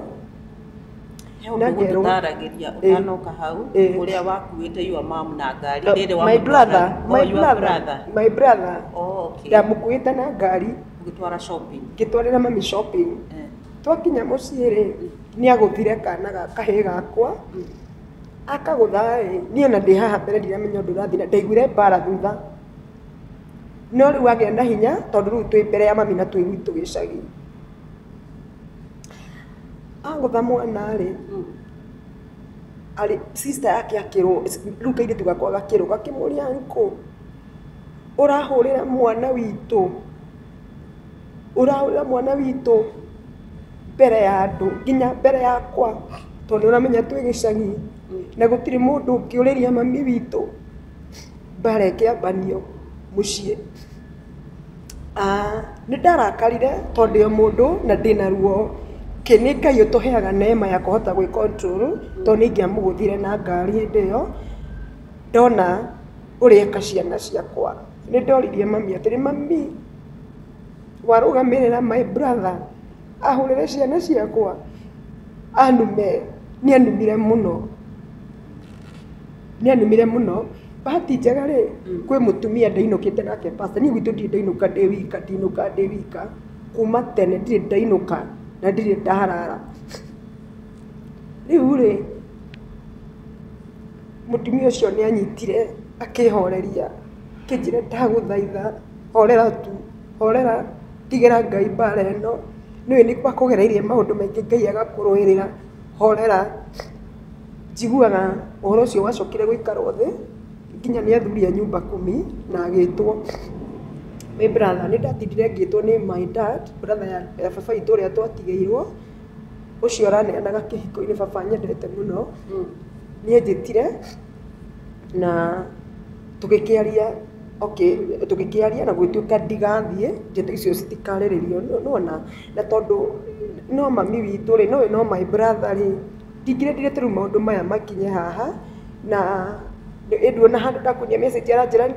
Speaker 1: He ũndũ ũngĩtaaragĩria ũtanoka hau, ũrĩa wakuĩte your mom na ngari rĩrĩa wamũtwara, oh
Speaker 2: your brother, my brother, oh okay, ndamũkuĩte
Speaker 1: na ngari.
Speaker 2: ũgĩtwara shopping
Speaker 1: ngĩtwarĩra mami shopping
Speaker 2: Eh. twakinya mũciĩ rĩ nĩ agũthire kana ga- kahĩĩ gakwa akagũtha rĩ niĩ ona ndĩ haha mbere ndiramenya ũndũ ũrathiĩ na ndaiguire mbara thutha no rĩu agĩa na hinya tondũ rĩu twĩ mbere ya mami na twĩ gwitũ gĩcagi agũtha mwana rĩ Mm. arĩ sister yake akĩrwo rĩu kairĩtu gakwa gakĩrwo gakĩmũria nkũ Ũrahũrĩra mwana witũ, ũrahũrĩra mwana witũ mbere ya andũ, nginya mbere yakwa, tondũ nĩ ũramenya twĩ gĩcagi na gũtirĩ mũndũ ũngĩũrĩria mami witũ mbara ĩkĩambanio mũciĩ. Nĩ ndarakarire tondũ ndĩ o mũndũ na ndĩ na ruo. Ĩ nĩ Ngai ũtũheaga neema ya kũhota gwĩ control tondũ nĩ ingĩamũgũthire na ngari hĩndĩ ĩyo. Ndona ũrĩa eka ciana ciakwa, nĩ ndoririe mami atĩrĩ, mami, warũgamĩrĩra my brother ahũrĩre ciana ciakwa anume? Nĩ anumire mũno, nĩ anumire mũno. Bahati njega rĩ, kwĩ mũtumia ndainũkĩte nake pastor. Niĩ gwitũ ndirĩ ndainũka ndĩ wika, ndinũkaga ndĩ wika, kuuma tene ndirĩ ndainũka na ndirĩ ndarara. Rĩu rĩ, mũtumia ũcio nĩ anyitire akĩhoreria akĩnjĩra ndagũthaitha horera tu, horera tigĩra Ngai mbara ĩno, nĩũĩ nĩ akũgereirie maũndũ maingĩ Ngai agakũrũĩrĩra, horera. Njiguaga ũhoro ũcio wacokire gũikarwo thĩ nginya nĩ athuri a nyumba kumi na agĩtwo. Nĩ brother, nĩ ndatindire ngĩtwo nĩ my dad, brother ya baba witũ ũrĩa twatigĩirwo. ũcio ũraneanaga kĩhiko-inĩ baba nyendete mũno niĩ njĩtire na tũgĩkĩaria okay tũgĩkĩaria na gũgĩtuĩka ndigathiĩ ndeto icio citikarĩrĩrio nĩwona na tondũ no mami witũ rĩ nowe no my brother rĩ ndingĩrendire ta rĩu maũndũ maya makinye haha na ĩĩ nduona handũ ndakũria message aranjĩra nĩ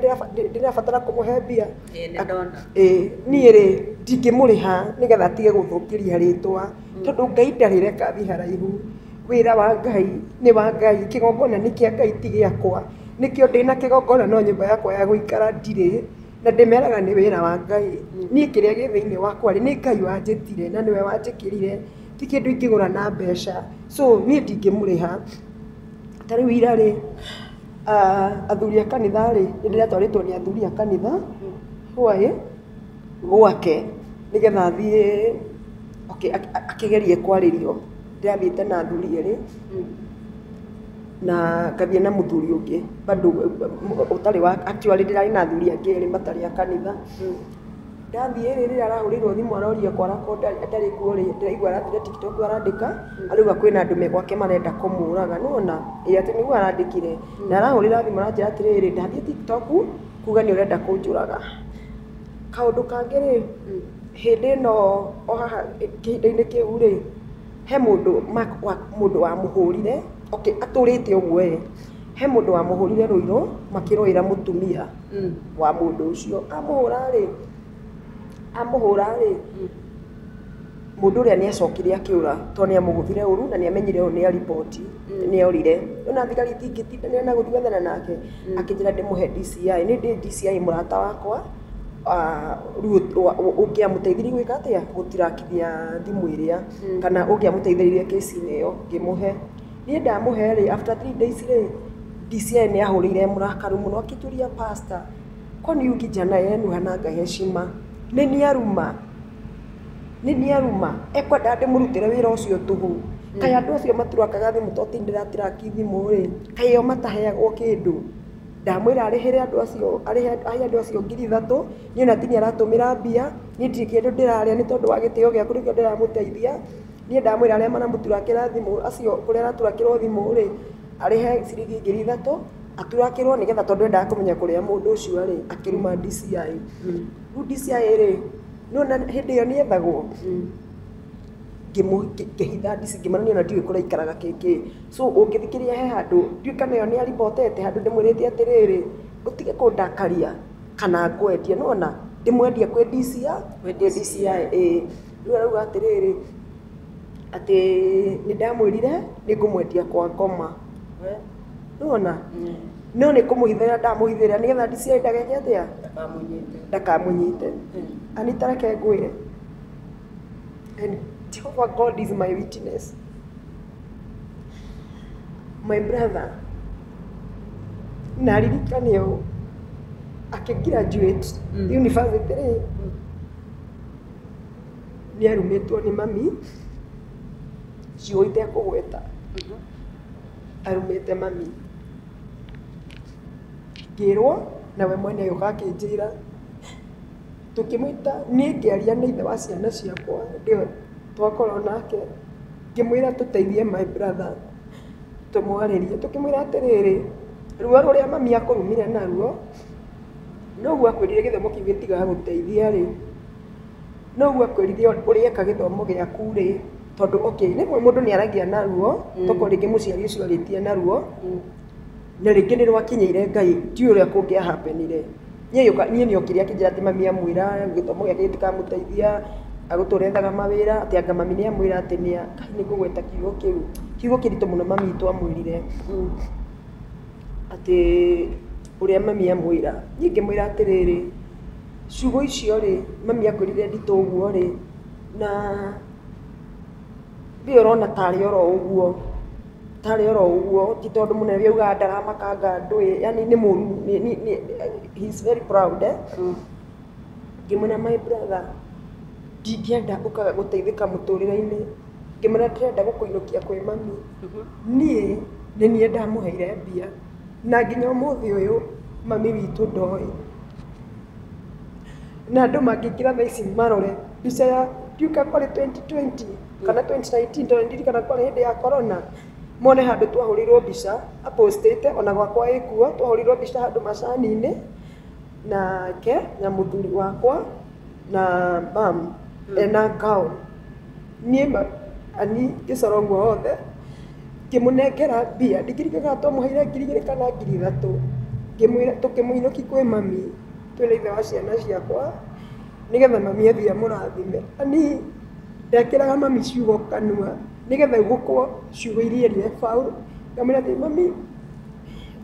Speaker 2: ndĩrabatara kũmũhe mbia. Ĩĩ nĩ ndona. Ĩĩ niĩ rĩ ndingĩmũrĩha nĩgetha atige gũthũkĩria rĩtwa tondũ Ngai ndarĩ reka athiĩ haraihu. Wĩra wa Ngai nĩ wa Ngai, kĩgongona nĩ kĩa Ngai ti gĩakwa. Nĩkĩo ndĩna kĩgongona no nyũmba yakwa ya gũikara ndirĩ. Na ndĩmeraga nĩ wĩra wa Ngai. Niĩ kĩrĩa gĩ thĩinĩ wakwa rĩ, nĩ Ngai wanjĩtire na nĩwe wanjĩkĩrire, ti kĩndũ ingĩgũra na mbeca. So niĩ ndingĩmũrĩha. Ta rĩu ira rĩ... Ah, athuri a kanitha rĩ nĩ ndĩratwarĩtwo nĩ athuri a kanitha hwaĩ gwake nĩgetha athiĩ okay, ak- ak- akĩgerie kwarĩrio ndĩrathiĩte na athuri erĩ na ngathiĩ na mũthuri ũngĩ bado ũtarĩ wa actually ndĩrarĩ na athuri angĩ erĩ matarĩ a kanitha Ndathiĩ rĩ, rĩrĩa arahũrĩirwo thimũ aroria kwara ko ndarĩ kuo rĩ, ndĩraigua arathiĩ TikTok arandĩka, arauga kwĩna andũ me gwake marenda kũmũraga, nĩ wona? Ĩĩ atĩ nĩguo arandĩkire. Na arahũrĩra thimũ aranjĩra atĩrĩrĩ, ndathiĩ TikTok kuga nĩ ũrenda kũnjũraga. Kaũndũ kangĩ rĩ, hĩndĩ ĩno o haha kĩhinda-inĩ kĩu rĩ, he mũndũ Mark mũndũ wamũhũrire, okay atũrĩte ũguo ĩ, he mũndũ wamũhũrire rũirũ makĩrũĩra mũtumia. wa mũndũ ũcio amũhũra-rĩ amũhũra-rĩ mũndũ ũrĩa nĩ acokire akĩũra tondũ nĩ amũgũthire ũru na nĩ amenyire ũyũ nĩ a report nĩ orire ona thigari itingĩtindanĩra na gũthiĩ gwethana nake akĩnjĩra ndĩmũhe DCI niĩ ndĩ DCI mũrata wakwa ah, rĩu wa- wa- ũngĩamũteithirie gwĩka atĩa gũtirakithia thimũ ĩrĩa kana ũngĩamũteithĩrĩirie kĩci-inĩ ĩyo ngĩmũhe niĩ ndamũhe rĩ after three days rĩ DCI nĩ ahũrĩire mũrakaru mũno akĩtũria pastor kwani huyu kijana yenu hananga heshima nĩ nĩaruma nĩ nĩaruma ekwenda ndĩmũrutĩre wĩra ũcio tũhũ kaĩ andũ acio maturakaga thimũ to ti ndĩratiraki thimũ rĩ kaĩ ĩyo mataheagwo kĩndũ ndamwĩra arĩhĩre andũ acio arĩhe ahe andũ acio ngiri ithatũ niĩ ona ti niĩ aratũmĩra mbia niĩ ndirĩ kĩndũ ndĩrarĩa nĩ tondũ wa gĩtĩo gĩaku nĩkĩo ndĩramũteithia Niĩ ndamwĩra arĩa maramũturakĩra thimũ acio kũrĩa araturakĩrwo thimũ rĩ, arĩhe ciringi ngiri ithatũ aturakĩrwo nĩ getha tondũ endaga kũmenya kũrĩa mũndũ ũcio arĩ akĩruma DCI. Rĩu DCI rĩ, nĩwona hĩndĩ ĩyo nĩethagwo ngĩhitha DC ngĩmonania ona ndiũĩ kũrĩa aikaraga kĩĩ kĩĩ. So ũngĩthikĩrĩria he handũ ndiũĩ kana ĩyo nĩ ya ribotete handũ ndĩmwĩrĩte atĩrĩrĩ, ũtige kũndakaria kana ngwendie. Nĩwona? Ndĩmwendie kwĩ DCI? Ndĩmwendie DCI, ĩĩ. Rĩu arauga atĩrĩrĩ, atĩ nĩ ndamwĩrire nĩ ngũmwendia kwa ngoma. Nĩ wona? No nĩ kũmũhithĩra ndamũhithĩra nĩgetha DCI ndageke atĩa? Ndakamũnyite. Anita reke ngwĩre. And Jehovah God is my witness. My brother, na ririkane ũũ, akĩ graduate university rĩ, nĩ arumĩtwo nĩ mami, ciugo itekũgweta, arumĩte mami. Ngĩrwo na we mwene agĩũka akĩnjĩra, tũkĩmũĩta niĩ ngĩaria na ithe wa ciana ciakwa nĩwe twakorwo nake, ngĩmwĩra tũteithie my brother tũmwarĩrie, tũkĩmwĩra atĩrĩrĩ, ruo rũrĩa mami akũrumire naruo, Noguo akwĩrire gĩthomo kĩu gĩtigagũteithia rĩ, noguo akwĩrire ũrĩe eka gĩthomo gĩaku rĩ, tondũ okay rĩmwe mũndũ nĩ aragia naruo, tokorwo rĩngĩ mũciari ũcio arĩtie naruo, na rĩngĩ nĩ rwakinyĩire Ngai, ndiũĩ ũrĩa kũngĩa happen ire. Niĩ gĩũka niĩ nĩ okire akĩnjĩra atĩ mami amwĩra gĩthomo gĩake gĩtikamũteithia, agũtũra ethaga mawĩra, atĩ anga mami nĩ amwĩra atĩ nĩa, nĩ kũgweta kiugo kĩu, kiugo kĩritũ mũno mami witũ amwĩrire. Atĩ ũrĩa mami amwĩra. Niĩ ngĩmwĩra atĩrĩrĩ, ciugo icio-rĩ, mami akwĩrire nditũ ũguo-rĩ, na we ũrona tarĩ oro ũguo, tarĩ oro ũguo, ti tondũ mũnene ũrĩa augaga ndaramakanga ndũĩ, yaani nĩ mũru, he is very proud. Ngĩmwĩra my brother, ndingĩenda ũkage gũteithĩka mũtũrĩre-inĩ, ngĩmwĩra ndĩrenda gũkũinũkia kwĩ mami. niĩ nĩ niĩ ndamũheire mbia na nginya ũmũthĩ ũyũ mami witũ ndoĩ. Na andũ mangĩingĩra thaa ici marore mbica ya ndiũĩ kana kwarĩ twenty twenty kana twenty nineteen tondũ ndirikana kwarĩ hĩndĩ ya Corona, mone handũ twahũrĩirwo mbica a post ĩte ona gwakwa ĩ kuo, twahũrĩirwo mbica handũ macani-inĩ nake na mũthuri wakwa. na mam ena ngaũ niĩ ma- ani ngĩcora ũguo wothe ngĩmũnengera mbia ndingĩrĩkana kana twamũheire ngiri igĩrĩ kana ngiri ithatũ ngĩmwĩra tũkĩmũinũki kwĩ mami twĩna ithe wa ciana ciakwa nĩgetha mami athiĩ amũrathime ani ndekĩraga mami ciugo kanua nĩgetha gũkwo ciugo iria erire baũ ngamwĩra atĩ mami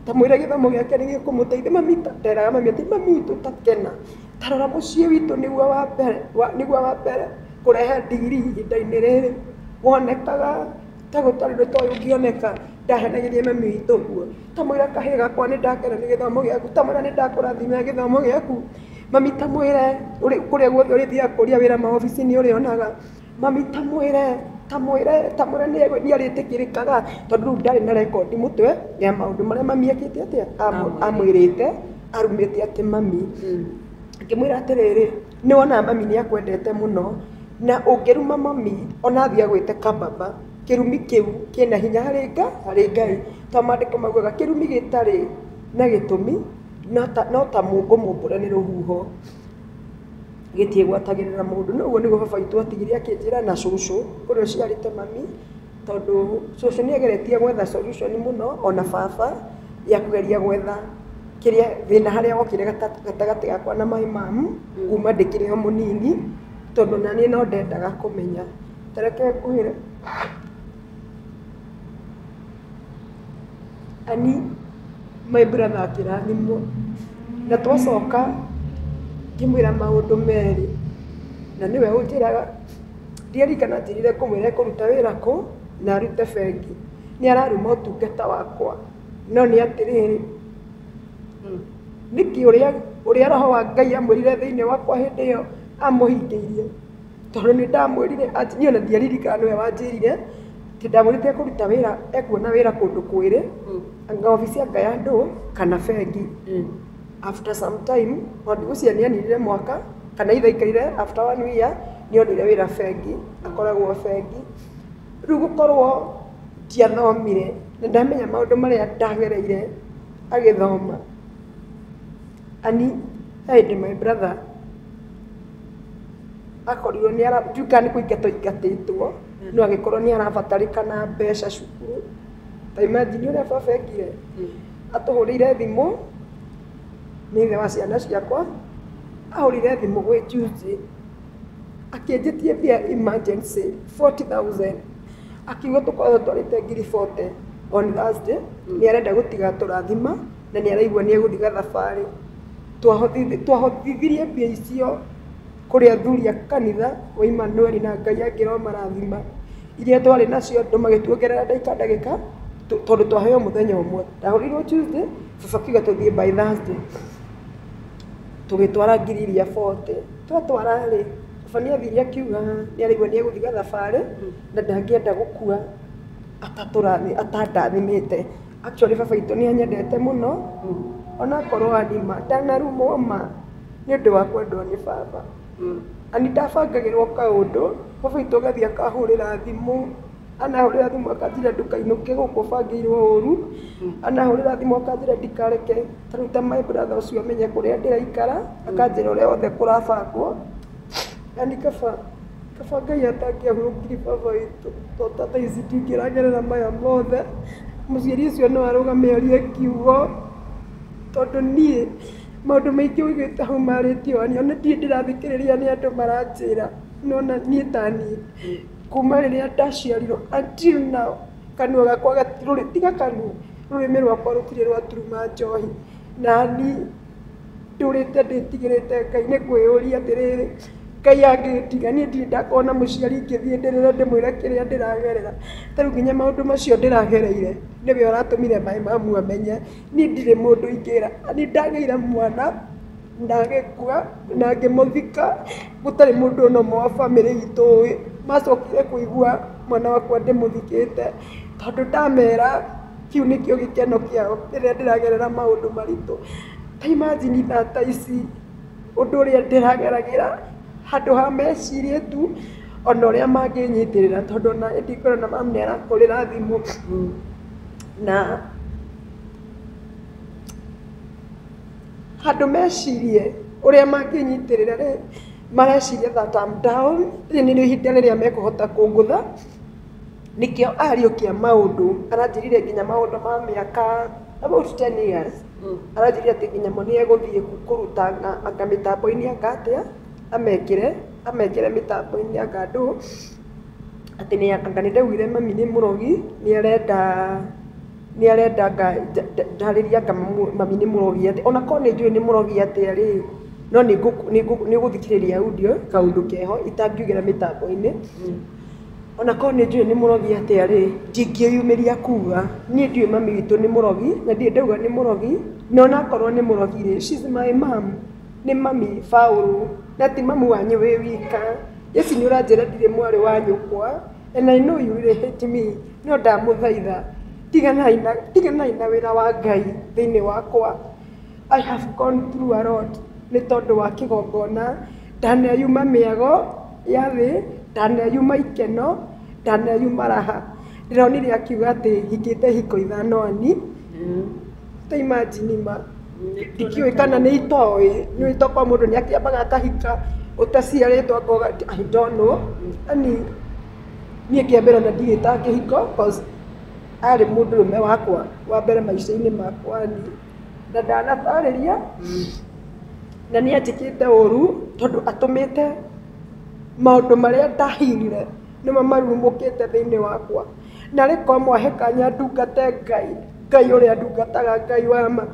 Speaker 2: ndamwĩra gĩthomo gĩake nĩgĩkũmũteithia mami nderaga mami atĩ mami witũ ta kena tarora mũciĩ witũ nĩguo wa mbere wa- nĩguo wa mbere kũrehe ndigiri ihinda-inĩ rĩrĩ wonekaga ta gũtarĩ nĩ toĩ ũngĩoneka ndahenagĩria mami witũ ũguo tamwĩra kahĩĩ gakwa nĩ ndakena nĩ gĩthomo gĩaku tamwĩra nĩ ndakũrathima nĩ gĩthomo gĩaku mami tamwĩre ũrĩ- kũrĩa guothe ũrĩthiaga kũria wĩra maobici-inĩ ũrĩonaga Mami tamwĩre tamwĩre tamwĩre nĩ arĩtĩkĩrĩkaga tondũ rĩu ndarĩ na rekondi mũtwe ya maũndũ marĩa mami ekĩte atĩa amwĩ- amwĩrĩte arumĩte atĩ mami ngĩmwĩra atĩrĩrĩ nĩ wona mami nĩ akwendete mũno na ũngĩruma mami ona athiĩ agwĩte kababa kĩrumi kĩu kĩna hinya harĩ nga harĩ ngai to maandĩko maugaga kĩrumi gĩtarĩ na gĩtũmi no ta- no ta mũngũ mũmbũre nĩ rũhuho gĩthiĩ gwatagĩrĩra mũndũ no ũguo nĩguo baba witũ atigire akĩnjĩra na cũcũ ũrĩa ũciarĩte mami tondũ cũcũ nĩ ageretie gwetha solution mũno ona baba ya kũgeria gwetha kĩrĩa thĩna harĩa wokire gata- gatagatĩ gakwa na my mam kuma ndĩkĩrĩ o mũnini tondũ naniĩ no ndendaga kũmenya tareke ngũhĩre Ani, my brother akĩrathimwo, na twacoka ngĩmwĩra maũndũ merĩ, na nĩwe ũnjĩraga, ndiaririkana anjĩrire ngũmwĩra ekũruta wĩra kũ na arute bengi, nĩ araruma ũtungata wakwa, no nĩ atĩrĩrĩ, nĩkĩ ũrĩa ũrĩa roho wa Ngai amwĩrire thĩinĩ wakwa hĩndĩ ĩyo amũhingĩirie? tondũ nĩ ndamwĩrire ati- niĩ ona ndiaririkana nĩwe wanjĩrire atĩ ndamwĩrĩte ekũruta wĩra ekuona wĩra kũndũ kwĩrĩ anga obici anga ya ndũ kana bengi after some time tondũ ũcio nĩ anirire mwaka kana ithe aikarire after one year nĩ onire wĩra bengi akoragwo bengi rĩu gũkorwo ndiathomire na ndamenya maũndũ marĩa ndagereire agĩthoma ani he hĩndĩ my brother akorirwo nĩ ara ndiũĩ kana nĩ kũingata aingatĩtwo no agĩkorwo nĩ arabatarĩkana mbeca cukuru ta imagine ũrĩa baba ekire atũhũrĩire thimũ nĩ ithe wa ciana ciakwa ahũrĩire thimũ gwĩ juzi akĩnjĩtie mbia emergency 40000 akiuga tũkoragwo twarĩte ngiri 40 on Thursday nĩ arenda gũtiga tũrathima. na nĩ araigua nĩ egũthiĩ gathabarĩ. Twahotithirie mbia icio kũrĩ athuri a kanitha wa Imanueli na Ngai akĩmarathima. Iria twarĩ nacio andũ magĩtuongerera ndagĩka ndagĩka tondũ twaheo mũthenya ũmwe. Ndahũrĩirwo Tuesday, baba akiuga tũthiĩ by Thursday. Tũgĩtwara ngiri iria bote. Twatwara rĩ, baba nĩ athire akiuga nĩ araigua nĩ egũthiĩ gathabarĩ na ndangĩenda gũkua atandathimĩte. Actually baba witũ nĩ anyendete mũno onakorwo ani ma ndanarumwo ma nĩ ũndũ wa kwendwo nĩ baba ani ndabangagĩrwo kaũndũ baba witũ agathiĩ akahũrĩra thimũ anahũrĩra thimũ akanjĩra ndũkainũke gũkũ ũbangĩirwo ũru anahũrĩra thimũ akanjĩra ndikareke ta rĩu ta my brother ũcio menye kũrĩa ndĩraikara akanjĩra ũrĩa wothe kũrabangwo yani kaba kaba ngai atangĩahurũkiri baba witũ to ta thaa ici tingĩragerera maya mothe mũciari ũcio no arũgame arie kiugo tondũ niĩ maũndũ maingĩ ũigĩte hau marĩtio wani ona ndirĩ ndĩrathikĩrĩria nĩ andũ maranjĩra nona niĩ ta niĩ kuma rĩrĩa ndaciarirwo until now kanua gakwa gati- rũrĩ- tiga kanua rũrĩmĩ rwakwa rũtirĩ rwaturuma njohi nani ndũrĩte ndĩtigĩrĩte ngai nĩ kwĩyũria atĩrĩrĩ ngai angĩtiga niĩ ndirĩ ndakona mũciari ingĩthiĩ ndĩrĩre ndĩmwĩre kĩrĩa ndĩragerera ta rĩu nginya maũndũ macio ndĩragereire nĩwe ũratũmire maĩ mamu amenye niĩ ndirĩ mũndũ ingĩra nĩ ndagĩire mwana na agĩkua na ngĩmũthika gũtarĩ mũndũ ona ũmwe wa bamĩrĩ itũ ũĩ macokire kũigua mwana wakwa ndĩmũthikĩte tondũ ndamera Kĩu nĩkĩo gĩkeno kĩao rĩrĩa ndĩragerera maũndũ maritũ. Ta imagine thaa ta ici ũndũ ũrĩa ndĩrageragĩra, handũ ha mecirie tu ona ũrĩa mangĩnyitĩrĩra tondũ ona hĩndĩ ĩngĩ ũrona mamu nĩ arakũrĩra thimũ na handũ mecirie ũrĩa mangĩnyitĩrĩra rĩ, mareciria that I'm down, rĩrĩ nĩrĩo ihinda rĩrĩa mekũhota kũngũtha. Nĩkĩo ariũkia maũndũ, aranjĩrire nginya maũndũ ma mĩaka about ten years, aranjĩrire atĩ nginya mo nĩegũthiĩ kũruta anga anga mĩtambo-inĩ anga atĩa, amekĩre, amekĩre mĩtambo-inĩ anga ndũ, atĩ nĩa anga nĩndaiguire mami nĩ mũrogi, nĩarenda nĩarenda anga nja nja njarĩrie anga mũ mami nĩ mũrogi atĩ ona korwo nĩnjũĩ nĩ mũrogi atĩa rĩ, no nĩngũ nĩngũ nĩũgũthikĩrĩria audio kaũndũ keho itangiugĩra mĩtambo-inĩ. Ona korwo nĩ njũĩ nĩ mũrogi atĩa rĩ, ndingĩyumĩria kuga. Niĩ ndiũĩ mami witũ nĩ mũrogi, na ndirĩ ndauga nĩ mũrogi, na ona akorwo nĩ mũrogi rĩ, she is my mum, nĩ mami baũrũ, na ti mami wanyu wĩ wika. Jessy nĩ ũranjĩra ndirĩ mwarĩ wa nyũkwa, and I know you will hate me, no ndamũthaitha, tiganaai na, tiganaai na wĩra wa Ngai thĩiniĩ wakwa. I have gone through a lot nĩ tondũ wa kĩgongona, ndaneyuma mĩago ya thĩ, ndaneyuma ikeno, ndaneyuma raha. Ndĩronire akiuga atĩ hikĩte ihiko ithano ani, ta imagine ma. Ndikĩũĩ kana nĩ itoĩ, nĩ ũĩ tokorwo mũndũ nĩ akĩambaga akahika ũtaciarĩtwo akoga atĩ I don't know. Yaani niĩ kĩa mbere ona ndirĩtaga kĩhiko coz arĩ mũndũrũme wakwa wa mbere maica-inĩ makwa. na ndanatarĩria na nĩ anjĩkĩte ũru tondũ atũmĩte maũndũ marĩa ndahinire nĩmo marurumũkĩte thĩinĩ wakwa na rĩkorwo mwahe kanya ndungate ngai ngai ũrĩa ndungataga ngai wa ma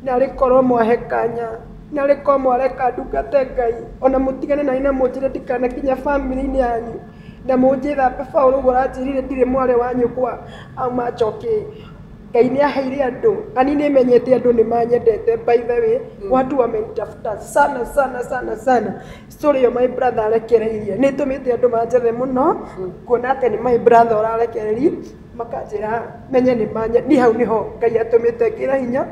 Speaker 2: na rĩkorwo mwahe kanya na rĩkorwo mwareka ndungate ngai ona mũtigane na niĩ na mũnjĩre ndikanakinya bamĩrĩ-inĩ yanyu na mũnjĩre atĩ baũlũ ũguo ũranjĩrire ndirĩ mwarĩ wa nyũkwa auma njoki Ngai nĩ aheire andũ, ani nĩ menyete andũ nĩ manyendete by the way mm. watu wamenitafuta sana sana sana sana story yo my brother arekereirie nĩ tumite andũ manjethe muno mm. kuona atĩ nĩ my brother ũrarekereri makanjĩra menye nĩ manye ni hau niho Ngai atumite ngira hinya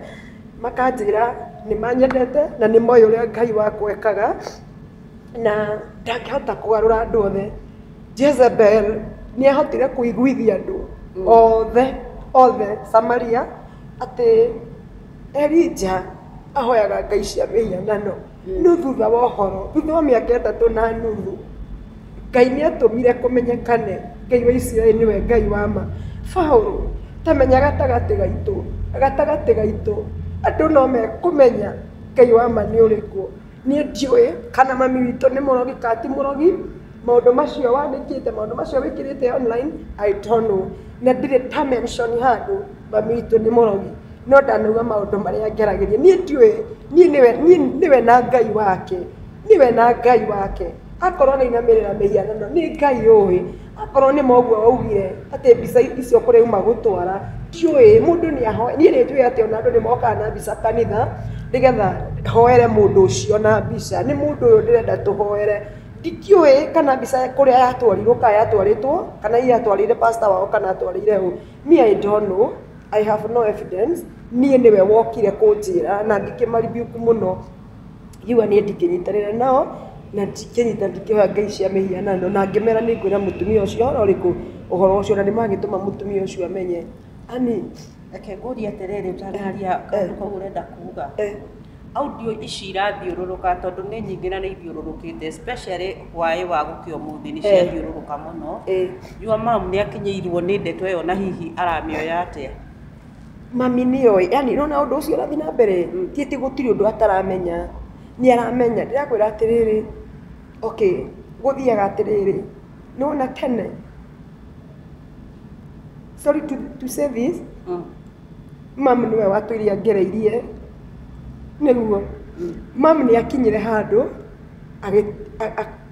Speaker 2: makanjĩra nĩ manyendete na nĩ moyo ũrĩa Ngai wakwekaga na ndangĩhota kwarũra andũ othe jezebel nĩ ahotire kũiguithia andũ othe othe samaria atĩ elija ahoyaga ngai cia mĩhianano no thutha wa ũhoro thutha wa mĩaka ĩtatũ na nuthu ngai nĩ atũmire kũmenyekane ngai wa isiraeli nĩwe ngai wa ma paũlũ tamenya gatagatĩ gaitũ gatagatĩ gaitũ andũ no mekũmenya ngai wa ma nĩ ũrĩkũ Niĩ ndiũĩ kana mami witũ nĩ mũrogi kana ti mũrogi, maũndũ macio wandĩkĩte, maũndũ macio wĩkĩrĩte online, I don't know. Na ndirĩ nda mention handũ mami witũ nĩ mũrogi. No ndanauga maũndũ marĩa ngeragĩria. Niĩ ndiũĩ, niĩ nĩwe, niĩ nĩwe na Ngai wake. Nĩwe na Ngai wake. Akorwo arainamĩrĩra mĩhianano, nĩ Ngai ũĩ. Akorwo nĩ ma ũguo waugire atĩ mbica icio kũrĩa uma gũtwara, ndiũĩ, mũndũ nĩ ahoe, niĩ nĩ njũĩ atĩ ona andũ nĩ mokaga na mbica kanitha, nĩgetha hoere mũndũ ũcio na mbica. Nĩ mũndũ ũyũ ndĩrenda tũhoere. Ndikĩũĩ kana mbica kũrĩa yatwarirwo kana yatwarĩtwo, kana hihi atwarĩire pastor wao kana atwarĩire ũ. Me I don't know, I have no evidence, niĩ nĩwe wokire kũnjĩra na ngĩkĩma rebuke mũno. Hiwa niĩ ndingĩnyitanĩra nao, na ndingĩnyita ndingĩoya ngai cia mĩhianano, na ngĩmera nĩ ngwĩra mũtumia ũcio ũhoro ũrĩkũ, ũhoro ũcio, na nĩ magĩtũma mũtumia ũcio amenye, ani, Reke ngũrie
Speaker 1: atĩrĩrĩ ũtanaria kaũndũ kau ũrenda kuga, audio ici irathiũrũrũka tondũ nĩ nyingĩ na nĩ ithiũrũrũkĩte especially hwaĩ wa gũkĩa ũmũthĩ nĩ ciathiũrũrũka mũno, your mum nĩ akinyĩirwo nĩ ndeto ĩyo na hihi aramĩoya atĩa? Mami
Speaker 2: nĩ oĩ, yaani nĩ ũrona ũndũ ũcio ũrathiĩ na mbere? Ti atĩ gũtirĩ ũndũ ataramenya, nĩ aramenya. Ndĩrakwĩra atĩrĩrĩ, okay, gũthiaga atĩrĩrĩ, nĩ wona tene, sorry to say this, mami nĩwe watũire angereirie, nĩguo. Mami nĩ akinyire handũ,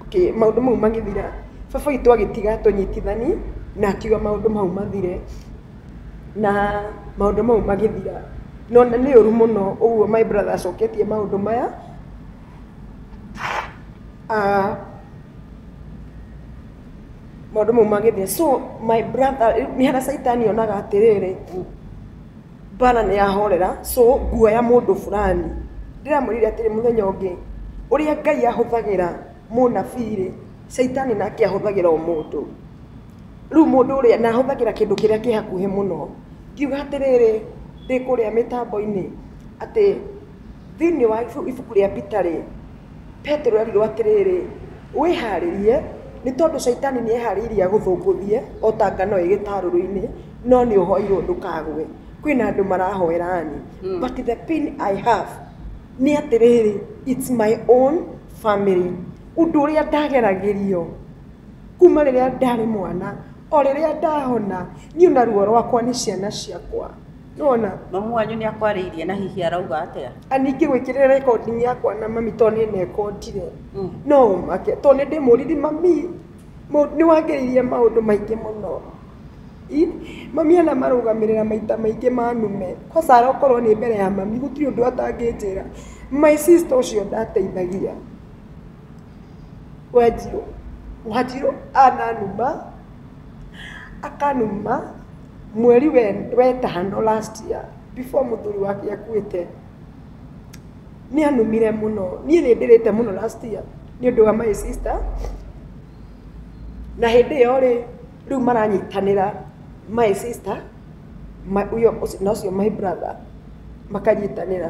Speaker 2: okay, maũndũ mau magĩthira, baba witũ agĩtiga atũnyitithani na akiuga maũndũ mau mathire. na maũndũ mau magĩthira. No na nĩ ũru mũno ũguo my brother acoketie maũndũ maya. Ah, maũndũ mau magĩthira. So my brother, rĩu nĩ harĩa caitani onaga atĩrĩrĩ, mbara nĩ yahorera, so nguoya mũndũ fulani. Ndĩramwĩrire atĩrĩ mũthenya ũngĩ, ũrĩa Ngai ahũthagĩra mũnabii-rĩ, caitani nake ahũthagĩra o mũndũ. Rĩu mũndũ ũrĩa, na hũthagĩra kĩndũ kĩrĩa kĩ hakuhĩ mũno, ngiuga atĩrĩrĩ, ndĩ kũrĩa mĩtambo-inĩ, atĩ thĩiniĩ wa ibuku rĩa Peter rĩ, Petero erirwo atĩrĩrĩ, wĩharĩrie, nĩ tondũ caitani nĩ eharĩirie agũthũngũthie, o ta ngano ĩ gĩtarũrũ-inĩ, no nĩ ũhoirwo ndũkagwe. Kwĩna andũ marahoera niĩ, but the pain I have nĩ atĩrĩrĩ, it's my own family. Ũndũ ũrĩa ndageragĩrio. Kuma rĩrĩa ndarĩ mwana, o rĩrĩa ndahona, niĩ na ruo rwakwa nĩ ciana ciakwa. Nĩwona? Mamu wanyu nĩ
Speaker 1: akwarĩirie na hihi arauga atĩa? Ani ingĩgwĩkĩrĩra
Speaker 2: recording yakwa na mami to nĩ nekondire. Mm. No ũmake. To nĩ ndĩmũriri mami mũ- nĩ wangĩrĩirie maũndũ maingĩ mũno. I, mami anamarũgamĩrĩra maita maingĩ manume. Kwanza arokorwo nĩ mbere ya mami, gũtirĩ ũndũ atangĩnjĩra. My sister ũcio ndateithagia. Wanjirũ, Wanjirũ ananuma, akanuma mweri we, wetano last year before mũthuri wake akuĩte. Nĩ anumire mũno. Niĩ nĩ ndĩrĩte mũno last year nĩ ũndũ wa my sister. Na hĩndĩ ĩyo rĩ, rĩu maranyitanĩra my sister ma, uyo, na ũcio my brother makanyitanĩra.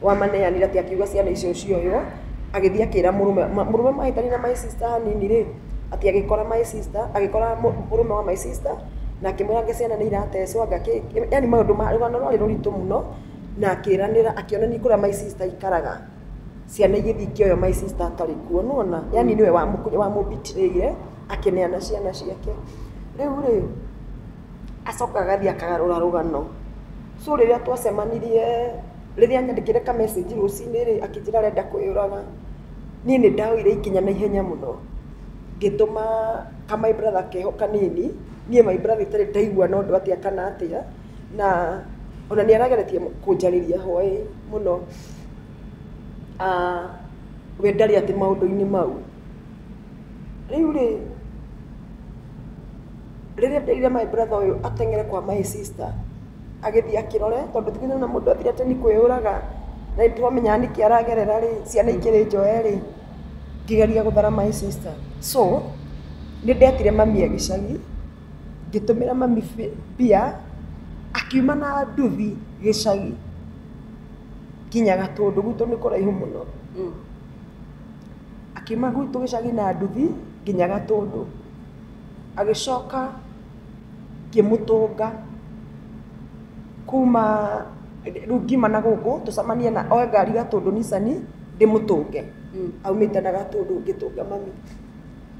Speaker 2: Wamaneanire atĩ akiuga ciana icio cioywo, agĩthiĩ akĩra mũrũme, mũrũme mahĩtania na my sister hanini rĩ, atĩ agĩkora my sister, agĩkora mũrũme wa my sister na akĩmwĩra anga ciana nĩ iratecwo anga kĩ, yaani maũndũ ma, rũgano rwarĩ rũritũ mũno, na akĩranĩra, akĩonania kũrĩa my sister aikaraga, ciana igĩthiĩ ikĩoywo my sister atarĩ kuo, nĩ wona, yaani nĩwe wamũ betray ire, akĩneana ciana ciake. Rĩu rĩ Acoka agathiĩ akagarũra rũgano. So rĩrĩa twacemanirie, rĩrĩa anyandĩkĩire ka message rũcinĩ rĩ, akĩnjĩra arenda kwĩyũraga, niĩ nĩ ndoire ikinya na ihenya mũno, ngĩtũma ka my brother keho kanini, niĩ my brother itarĩ ndaigua no ũndũ atĩa kana atĩa, na ona nĩ arageretie kũnjarĩria hwaĩ mũno, we ndarĩ atĩ maũndũ-inĩ mau. Rĩu rĩ, rĩrĩa nderire my brother ũyũ ateng'ere kwa my sister, agĩthiĩ akĩrore, tondũ ithuĩ nĩwona mũndũ athire atĩ nĩ kwĩyũraga, na nĩ twamenyaga nĩkĩ aragerera rĩ, ciana ikĩrĩ njoe rĩ, ngĩgeria gũthara my sister. So, nĩ ndetire mami e gĩcagi, ngĩtũmĩra mami mbia, akiuma na nduthi gĩcagi nginya Gatũndũ, gwitũ nĩ kũraihu mũno. Akiuma gwitũ gĩcagi na nduthi nginya Gatũndũ, agĩcoka ngĩmũtũnga kuma, rĩu ngiuma na gũkũ tũcemanie na, oe ngari Gatũndũ Nissan ndĩmũtũnge, aumĩte na Gatũndũ ngĩtũnga mami.